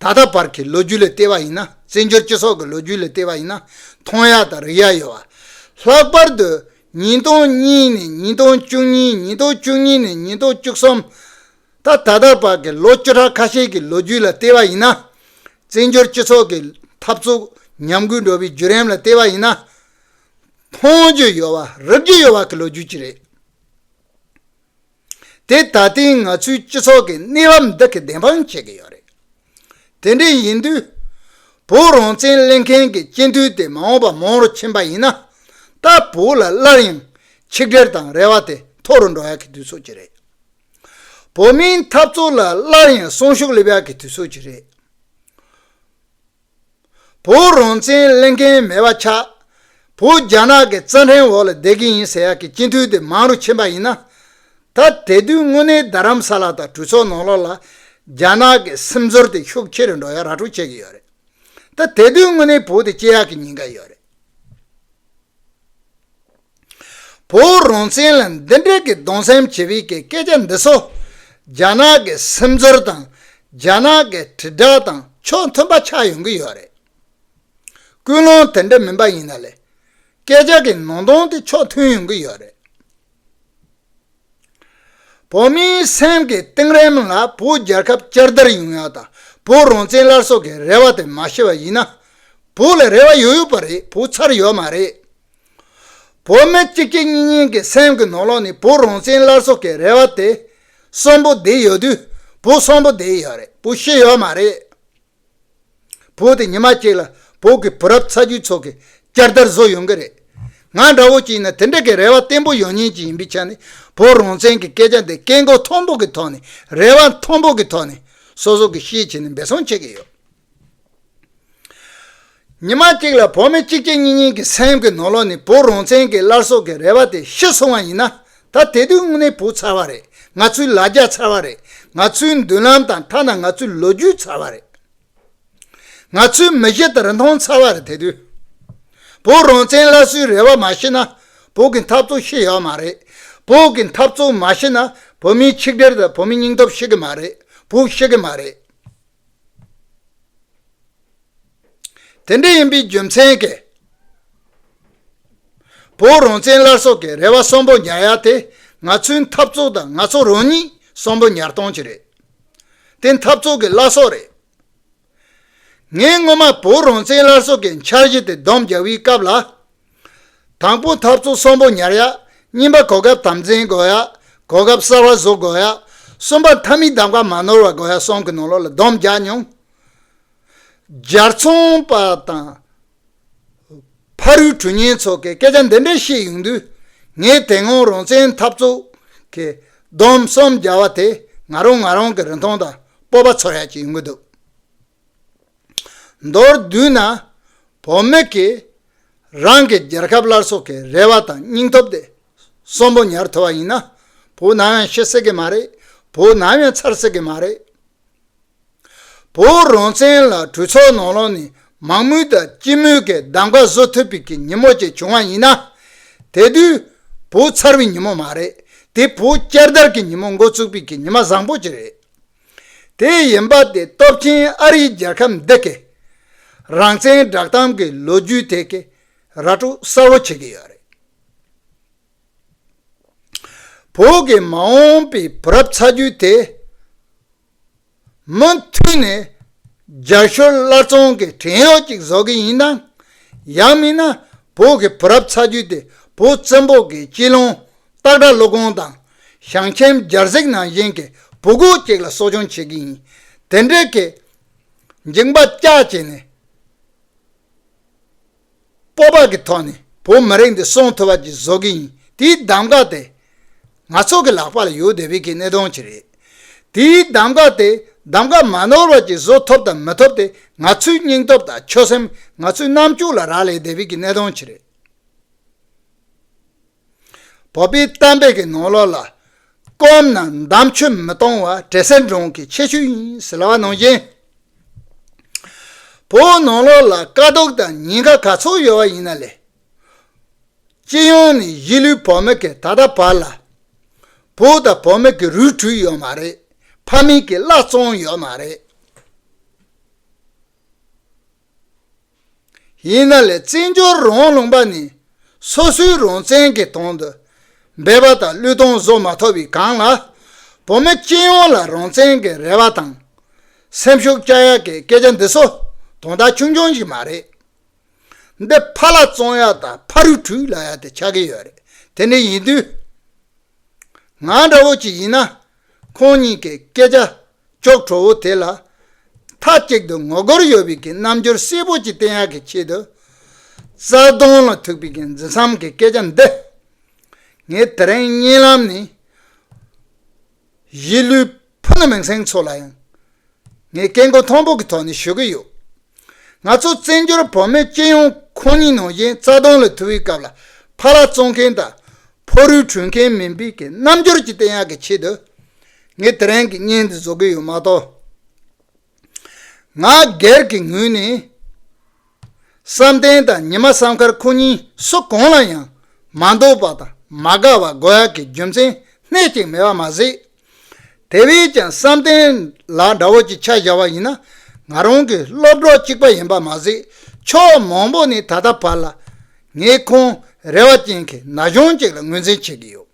ད་ལྟ་བར་གྱི་ལོ་རྒྱུས་ལས་བལྟས་པ་ཡིན་ན་བཙན་བྱོལ་སྤྱི་ཚོགས་ཀྱི་ལོ་རྒྱུས་ལས་བལྟས་པ་ཡིན་ན་མཐོང་ཡ་དང་རིག་ཡ་ཡོད་བ། ལྷག་པར་དུ་ཉིས་སྟོང་གཉིས་ནས་ཉིས་སྟོང་བཅུ་གཉིས་ཉིས་སྟོང་བཅུ་གཉིས་ནས་ཉིས་སྟོང་བཅུ་གསུམ། ད་ད་ལྟ་བར་གྱི་ལོ་བཅུ་ཕྲག་ཁ་ཤས་ཀྱི་ལོ་རྒྱུས་ལ་བལྟས་པ་ཡིན་ན། བཙན་བྱོལ་སྤྱི་ཚོགས་ཀྱི་འཐབ་རྩོད་ཉམས་རྒུད་འགྲོ་བའི་བརྒྱུད་རིམ་ལ་བལྟས་པ་ཡིན་ན། མཐོང་རྒྱུ་ཡོད་བ་རིག་རྒྱུ་ཡོད་བ་གྱི་ལོ་རྒྱུས་ཅིག་རེད། དེ་ད་ལྟའི་ང་ཚོའི་སྤྱི་ཚོགས་ཀྱི་གནས་བབ་འདི་གིས་བདེན་དཔང་བྱེད་ཀྱི་ཡོད་རེད། དེ་འདྲ་ཡིན་དུས། བོད་རང་བཙན་གླེང་མཁན་གྱི་སྤྱི་འཐུས་དེ་མ་འོངས་པར་མང་རུ་ཕྱིན་པ་ཡིན་ན། ད་བོད་ལ་སླར་ཡང་ཆིག་སྒྲིལ་དང་རེ་བ་དེ་མཐོ་རུ་འགྲོ་ཡག་གི་དུས་ཚོད་ཅིག་རེད། བོད་མིའི་འཐབ་རྩོད་ལ་སླར་ཡང་སྲུང་ཤུགས་སླེབས་ཡག་གི་དུས་ཚོད་ཅིག་རེད། བོད་རང་བཙན་གླེང་མཁན་མེད་པ་ཆགས། བོད་རྒྱ་ནག་གི་རྩ་འཕྲེང་འོག་ལ་བསྡད་ཀྱི་ཡིན་ཟེར་ཡག་གི་སྤྱི་འཐུས་དེ་མང་རུ་ཕྱིན་པ་ཡིན་ན། ད་དེ་དུས་དངོས་གནས་རྡ་རམ་ས་ལ་དང་གྲོས་ཚོགས་ནང་ལོགས་ལ་རྒྱ་ནག་གི་སེམས་ཚོར་དེ་ཤུགས་ཆེ་རུ་འགྲོ་ཡག་ར་སྤྲོད་བྱེད་ཀྱི་ཡོད་རེད། ད་དེ་དུས་དངོས་གནས་བོད་དེ་སྐྱེ་ཡག་གི་ཉིན་འགའ་ཡོད་རེད། བོད་རང་བཙན་ལ་འདི་འདྲའི་གི་གདུང་སེམས་ཆེ་བའི་གི་སྐད་ཆ་འདི་ཚོ། རྒྱ་ནག་གི་སེམས་ཚོར་དང་རྒྱ་ནག་གི་དྲིལ་བསྒྲགས་དང་ཕྱོགས་མཐུན་པ་ཆགས་ཡོང་གི་ཡོད་རེད། ཀུན་སློང་དེ་འདྲ་མིན་པ་ཡིན་ན་ལས་སྐད་ཆ་གི་ནང་དོན་དེ་ཕྱོགས་མཐུན་ཡོང་གི་ཡོད་རེད། བོད་མིའི་སེམས་ཀྱི་གཏིང་རིམ་ལ་བོད་རྒྱལ་ཁབ་བསྐྱར་དར་ཡོང་ཡག་དང་བོད་རང་བཙན་སླར་གསོ་གི་རེ་བ་དེ་མ་ཤེས་པ་ཡིན་ན། བོད་ལ་རེ་བ་ཡོད་ཡོད་པ་རེད་བོད་ཚར་ཡོད་མ་རེད། བོད་མི་གཅིག་གཅིག་གཉིས་གཉིས་ཀྱི་སེམས་ཀྱི་ནོར་ལོག་ནས་བོད་རང་བཙན་སླར་གསོ་གི་རེ་བ་དེ་གསོན་པོ་བསྡད་ཡོད་དུས་བོད་གསོན་པོ་བསྡད་ཡོད་རེད་བོད་ཤེས་ཡོད་མ་རེད། བོད་དེ་ཉི་མ་གཅིག་ལ་བོད་ཀྱི་བུ་རབས་ཚ་རྒྱུད་ཚོ་གི་བསྐྱར་དར་བཟོ་ཡོང་གི་རེད། ང་འདྲ་བོ་ཅིག་ནས་དེ་འདྲ་གི་རེ་བ་བརྟན་པོ་ཡོང་ཉེན་གྱི་ཡིན་པའི་ཆ་ནས་བོད་རང་བཙན་གྱི་སྐད་ཆ་འདི་སྐད་མགོ་མཐོན་པོ་གི་ཐོག་ནས་རེ་བ་མཐོན་པོ་གི་ཐོག་ནས་སོ་སོ་གི་ཤེས་བྱེད་ནས་འབད་བཟང་བྱེད་ཀྱི་ཡོད། ཉི་མ་གཅིག་ལ་བོད་མི་གཅིག་གཅིག་གཉིས་གཉིས་ཀྱི་སེམས་ཀྱི་ནོར་ལོག་ནི་བུ་རོང་བཙན་གྱི་སླར་གསོ་གི་རེ་བ་དེ་ཤི་སོང་བ་ཡིན་ན་ད་དེ་དུས་དངོས་གནས་བུ་ཚར་བ་རེད་ང་ཚོའི་ལ་རྒྱ་ཚར་བ་རེད་ང་ཚོའི་མདུན་ལམ་དང་ཐ་ན་ང་ཚོའི་ལོ་རྒྱུས་ཚར་བ་རེད། ང་ཚོའི་མི་གཞི་དང་རིན་ཐང་ཚར་བ་རེད་དེ་དུས་བུ་རོང་བཙན་སླར་གསོའི་རེ་བ་མ་ཤི་ན་བོད་ཀྱི་འཐབ་རྩོད་ཤི་ཡོད་མ་རེད་བོད་ཀྱི་འཐབ་རྩོད་མ་ཤི་ན་བོད་མིའི་ཆིག་སྒྲིལ་དང་བོད་མིའི་སྙིང་སྟོབས་ཤི་གི་མ་རེད་བུ་ཤི་གི་མ་རེད། དེ་འདྲ་ཡིན་པའི་རྒྱུ་མཚན་གྱིས། བོད་རང་བཙན་སླར་གསོ་གི་རེ་བ་གསོན་པོ་ཉར་ཡ་དེ་ང་ཚོའི་འཐབ་རྩོད་དང་ང་ཚོ་རང་ཉིད་གསོན་པོ་ཉར་སྟངས་ཀྱིས་རེད། དེ་འཐབ་རྩོད་ཀྱི་བླ་སྲོག་རེད། ངས་སྔོན་མ་བོད་རང་བཙན་སླར་གསོ་གི་འཆར་གཞི་དེ་བསྡོམས་རྒྱག་པའི་སྐབས་ལ། དང་པོ་ཐབས་ཚུལ་གསུམ་པོ་ཉར་ཡ། གཉིས་པ་གོ་སྐབས་དམ་འཛིན་དགོས་ཡ། གོ་སྐབས་གསར་བ་གཟུག་དགོས་ཡ། གསུམ་པ་མཐའ་མི་གདམ་ཀ་མ་ནོར་བ་དགོས་ཡ་གསུམ་གྱི་ནང་ལོགས་ལ་སྡོམ་རྒྱག་སྙོམས་སྦྱར་མཚུངས་པ་དང། ཕ་རུའི་གྲུ་གཉན་ཚོ་གས་སྐད་ཆ་འདི་འདྲ་བཤད་ཡོང་དུས་ངས་དེ་སྔོན་རང་བཙན་འཐབ་རྩོད་ཀྱི་སྡོམ་གསུམ་རྒྱག་བ་དེ་ང་རང་ང་རང་གི་རིན་ཐང་དང་སྤོབས་པ་ཚོར་ཡ་གཅིག་ཡོང་གི་འདུག། མདོར་བསྡུས་ན་བོད་མི་གིས་རང་གི་རྒྱལ་ཁབ་སླར་གསོ་གི་རེ་བ་དང་སྙིང་སྟོབས་དེ་གསོན་པོ་ཉར་ཐུབ་པ་ཡིན་ན་བོད་ནམ་ཡང་ཤི་སྲིད་ཀྱི་མ་རེད་བོད་ནམ་ཡང་ཚར་སྲིད་ཀྱི་མ་རེད། བོད་རང་བཙན་ལ་གྲོས་ཚོགས་ནང་ལོགས་ནས་མང་མོས་དང་སྤྱི་མོས་ཀྱི་གདམ་ག་བཟོ་ཐུབ་པའི་གི་ཉིན་མོ་ཅིག་བྱུང་བ་ཡིན་ན་དེ་དུས་བོད་ཚར་བའི་ཉིན་མོ་མ་རེད་དེ་བོད་བསྐྱར་དར་གྱི་ཉིན་མོ་འགོ་བཙུགས་པའི་གི་ཉི་མ་བཟང་པོ་ཅིག་རེད། དེ་ཡིན་པ་དེ་སྟོབས་ཆེན་ཨ་རིའི་རྒྱལ་ཁབ་འདི་གས་རང་བཙན་བསྒྲགས་སྟངས་ཀྱི་ལོ་རྒྱུས་ཐད་ཀྱི་ར་སྤྲོད་གསལ་བོ་བྱེད་ཀྱི་ཡོད་རེད། བོད་ཀྱི་མ་འོངས་པའི་བུ་རབས་ཚ་རྒྱུད་དེ་མུ་མཐུད་ནས་རྒྱ་ཤོར་སླར་ཚོང་གི་བྲན་གཡོག་ཅིག་བཟོ་གི་ཡིན་ནམ་ཡང་མིན་ན་བོད་ཀྱི་བུ་རབས་ཚ་རྒྱུད་དེ་བོད་བཙན་པོ་གའི་སྐྱིད་ལོང་སྟག་སྒྲ་ཀླུ་གོང་དང་ཞང་ཆེན་སྦྱར་གཟིགས་ནང་བཞིན་གྱི་བུ་གུ་གཅིག་ལ་གསོ་སྦྱོང་བྱེད་ཀྱི་ཡིན། དེ་འབྲེལ་གྱི། འཇིགས་པ་སྐྱག་བྱས་ནས། སྤོབས་པ་གྱི་ཐོག་ནས་བོད་མི་རིགས་འདི་སྲུང་ཐུབ་པ་ཅིག་བཟོ་གི་ཡིན་དེའི་གདམ་ག་དེ། ང་ཚོ་གི་ལག་པ་ལ་ཡོད་དེ་བས་ཀྱི་གནད་དོན་ཅིག་རེད། དེའི་གདམ་ག་དེ་གདམ་ག་མ་ནོར་བ་ཅིག་བཟོ་ཐུབ་དང་མི་ཐུབ་དེ་ང་ཚོའི་སྙིང་སྟོབས་དང་ཆོད་སེམས་ང་ཚོའི་རྣམ་དཔྱོད་ལ་རག་ལས་དེ་བས་ཀྱི་གནད་དོན་ཅིག་རེད། བོད་པའི་གཏམ་དཔེ་གི་ནང་ལོགས་ལ་སྐོམ་ན་འདམ་ཆུ་མི་གཏོང་བ་བྲེ་སེར་འབྲོང་གི་ཆེ་ཤོས་ཡིན་ཟེར་བ་ནང་བཞིན། བོད་ནང་ལོགས་ལ་དཀའ་སྡུག་དང་ཉེན་ཁ་ག་ཚོད་ཡོད་བ་ཡིན་ན་ལས། སྤྱི་ཡོངས་ནས་གཞིས་ལུས་བོད་མི་གི་ད་ལྟ་བར་ལ་བོད་དང་བོད་མི་གི་རུས་དྲུས་ཡོད་མ་རེད་ཕ་མེས་གི་བླ་བཙོང་ཡོད་མ་རེད། ཡིན་ན་ལས་བཙན་སྦྱོར་རོང་ལུང་པ་ནི་སོ་སོའི་རོང་བཙན་གྱི་དོང་དུ་སྦས་པ་དང་གླུད་དོང་བཟོ་མ་ཐོབ་པའི་སྒང་ལ་བུ་མོ་སྐྱེས་ཡོང་ལ་རོང་བཙན་གྱི་རེ་བ་དང་སེམས་ཤུགས་བསྐྱ་ཡག་གི་སྐད་ཆ་འདི་ཚོ་དོང་དག་ཆུང་ཆུང་ཞིག་མ་རེད། འདི་ཕ་ལ་བཙོང་ཡག་དང་ཕ་རུ་ཁྲུས་ལ་ཡག་དེ་ཆགས་ཀྱི་ཡོད་རེད་དེ་འདྲ་ཡིན་དུས། ང་འདྲ་བོ་ཅིག་ཡིན་ན། ཁོང་གཉིས་ཀྱི་སྐད་ཆ་ཅོག་གྲོགས་བོ་དེ་ལ་མཐའ་གཅིག་ཏུ་ངོ་རྒོལ་ཡོད་པའི་གི་རྣམ་འགྱུར་གསལ་པོ་ཅིག་བསྟན་ཡག་གི་ཆེད་དུ། རྩ་དོན་ལ་ཐུག་པའི་གི་འཛིན་བསམ་གི་སྐད་ཆ་འདི། ངས་དེ་རིང་བརྙན་ལམ་ནས་གཞིས་ལུས་ཕུ་ནུ་མིང་སྲིང་ཚོ་ལ་ཡང་ངས་སྐད་མགོ་མཐོན་པོ་གི་ཐོག་ནས་ཞུ་གི་ཡོད། ང་ཚོ་བཙན་བྱོལ་བོད་མི་སྤྱི་ཡོངས་ཁོང་ཉིད་ནང་བཞིན་རྩ་སྟོང་ལ་དུ་བའི་སྐབས་ལ་ཕ་རག་བཙོང་མཁན་དང་ཕོ་རུས་དྲུད་མཁན་མིན་པའི་གི་རྣམ་འགྱུར་གྱི་བསྟན་ཡག་གི་ཆེད་དུ་ངས་དེ་རིང་གི་བརྙན་འདི་བཟོ་གི་ཡོད་མ་གཏོགས། ང་སྒེར་གྱི་ངོས་ནས་བསམ་གཏན་དང་ཉི་མ་བསམ་ཁར་ཁོང་གཉིས་སུ་གང་ལ་ཡང་མ་འདོད་པ་དང་མ་དགའ་བ་དགོ་ཡག་གི་རྒྱུ་མཚན་སྣེ་གཅིག་མེད་པ་མ་ཟད། དེ་བས་ཀྱང་བསམ་གཏན་ལ་དགྲ་བོ་ཅིག་ཆ་བཞག་པ་ཡིན་ན་ང་རང་གི་སློབ་གྲོགས་གཅིག་པ་ཡིན་པ་མ་ཟད་ཕྱོགས་མང་པོ་ནས་ད་ལྟ་བར་ལ་ངས་ཁོང་རེ་བ་ཅན་གྱི་ན་གཞོན་ཅིག་ལ་ངོས་འཛིན་བྱེད་ཀྱི་ཡོད།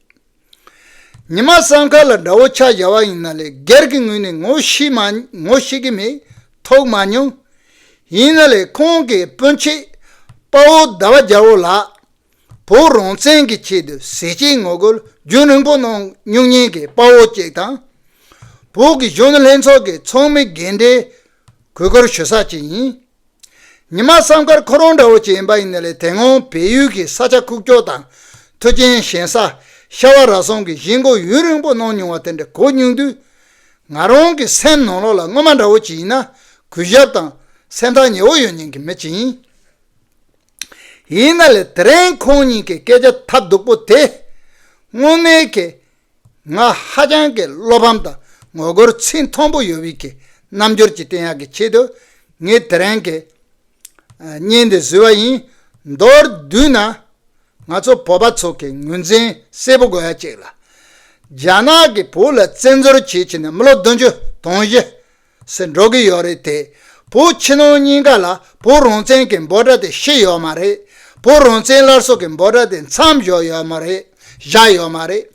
ཉི་མ་བསམ་ཁ་ལ་དགྲ་བོ་ཆ་བཞག་པ་ཡིན་ན་ལས་སྒེར་གྱི་ངོས་ནས་ངོ་ཤེས་མ་ངོ་ཤེས་ཀྱི་མེད་ཐོག་མ་མྱོང། ཡིན་ན་ལས་ཁོང་གི་སྤུན་མཆེད་དཔའ་བོ་ཟླ་བ་རྒྱལ་བོ་ལགས། བོད་རང་བཙན་གྱི་ཆེད་དུ་ཟས་བཅད་ངོ་རྒོལ་རྒྱུན་རིང་པོ་གནང་སྨྱུག་བརྙན་གྱི་དཔའ་བོ་གཅིག་དང། བོད་ཀྱི་གཞོན་ནུ་ལྷན་ཚོགས་ཀྱི་ཚོགས་མི་རྒན་གྲས་གུས་བཀུར་ཞུ་ས་གཅིག་ཡིན། ཉི་མ་བསམ་ཁར་ཁོ་རང་འདྲ་བོ་གཅིག་ཡིན་པ་ཡིན་ན་ལས་དེ་སྔོན་བལ་ཡུལ་གྱི་ས་ཆ་ཁུག་ཀྱོག་དང་མཐུ་རྐྱེན་ཞན་ས་ཤྭ་བ་ར་སོང་གི་གཞིས་མགོ་ཡུན་རིང་པོ་གནང་མྱོང་བ་དེ་འདྲ་གོ་མྱོང་དུས། ང་རང་གི་སེམས་ནང་ལོགས་ལ་སྔོན་མ་འདྲ་བོ་གཅིག་ཡིན་ན་གུས་ཞབས་དང་སེམས་ཐག་ཉེ་བོ་ཡོད་མྱོང་གི་མི་གཅིག་ཡིན། ཡིན་ན་ལས་དེ་རིང་ཁོང་གཉིས་ཀྱི་སྐད་ཆ་ཐབས་སྡུག་པོ་དེས་དངོས་གནས་ཀྱི་ང་ཧ་ཅང་གི་བློ་ཕམ་དང་ངོ་རྒོལ་ཚིག་མཐོན་པོ་ཡོད་བིད་ཀྱི་རྣམ་འགྱུར་གྱི་བསྟན་ཡག་གི་ཆེད་དུ་ངས་དེ་རིང་གི་བརྙན་འདི་བཟོས་བ་ཡིན། མདོར་བསྡུས་ན་ང་ཚོ་བོད་པ་ཚོ་གི་ངོས་འཛིན་གསལ་པོ་དགོས་ཡ་གཅིག་ལ་རྒྱ་ནག་གི་བོད་ལ་བཙན་འཛོལ་བྱེད་བྱེད་ནས་མི་ལོ་བདུན་ཅུ་དོང་བཞི་སེ་འགྲོ་གི་ཡོད་རེད་དེ། བོ་ཕྱི་ནང་གཉིས་ཀ་ལ་བོ་རང་བཙན་གི་འབོད་སྒྲ་དེ་ཤི་ཡོད་མ་རེད། བོ་རང་བཙན་སླར་གསོ་གི་འབོད་སྒྲ་དེ་མཚམས་བཞག་ཡོད་མ་རེད། བཞག་ཡོད་མ་རེད།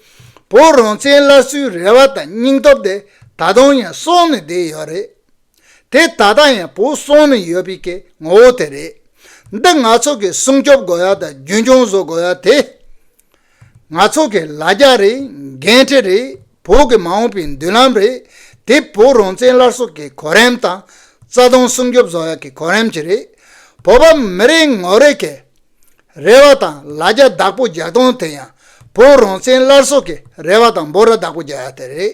བོ་རང་བཙན་སླར་གསོའི་རེ་བ་དང་སྙིང་སྟོབས་དེ་ད་དུང་ཡང་གསོན་ནས་བསྡད་ཡོད་རེད། དེ་ད་ལྟ་ཡང་བོ་གསོན་ནས་ཡོད་པའི་གི་ངོ་བོ་དེ་རེད། འདི་ང་ཚོ་གི་སྲུང་སྐྱོབ་དགོས་ཡ་དང་རྒྱུན་སྐྱོང་བཟོ་དགོས་ཡ་དེ། ནག་ཚོགས་ཀྱི་ལ་རྒྱ་རེད་འགན་འཁྲི་རེད་བོད་ཀྱི་མ་འོངས་པའི་མདུན་ལམ་རེད་དེ་བོད་རང་བཙན་སླར་གསོ་གི་གོ་རིམ་དང་རྩ་དོན་སྲུང་སྐྱོབ་བཟོ་བ་གི་གོ་རིམ་གྱི་རེད་བོད་པ་མི་རིགས་ངོ་རེ་གི་རེ་བ་དང་ལ་རྒྱ་བདག་པོ་རྒྱག་སྟངས་དེ་ཡང་བོད་རང་བཙན་སླར་གསོ་གི་རེ་བ་དང་འབོ་ར་བདག་པོ་རྒྱག་ཡ་དེ་རེད།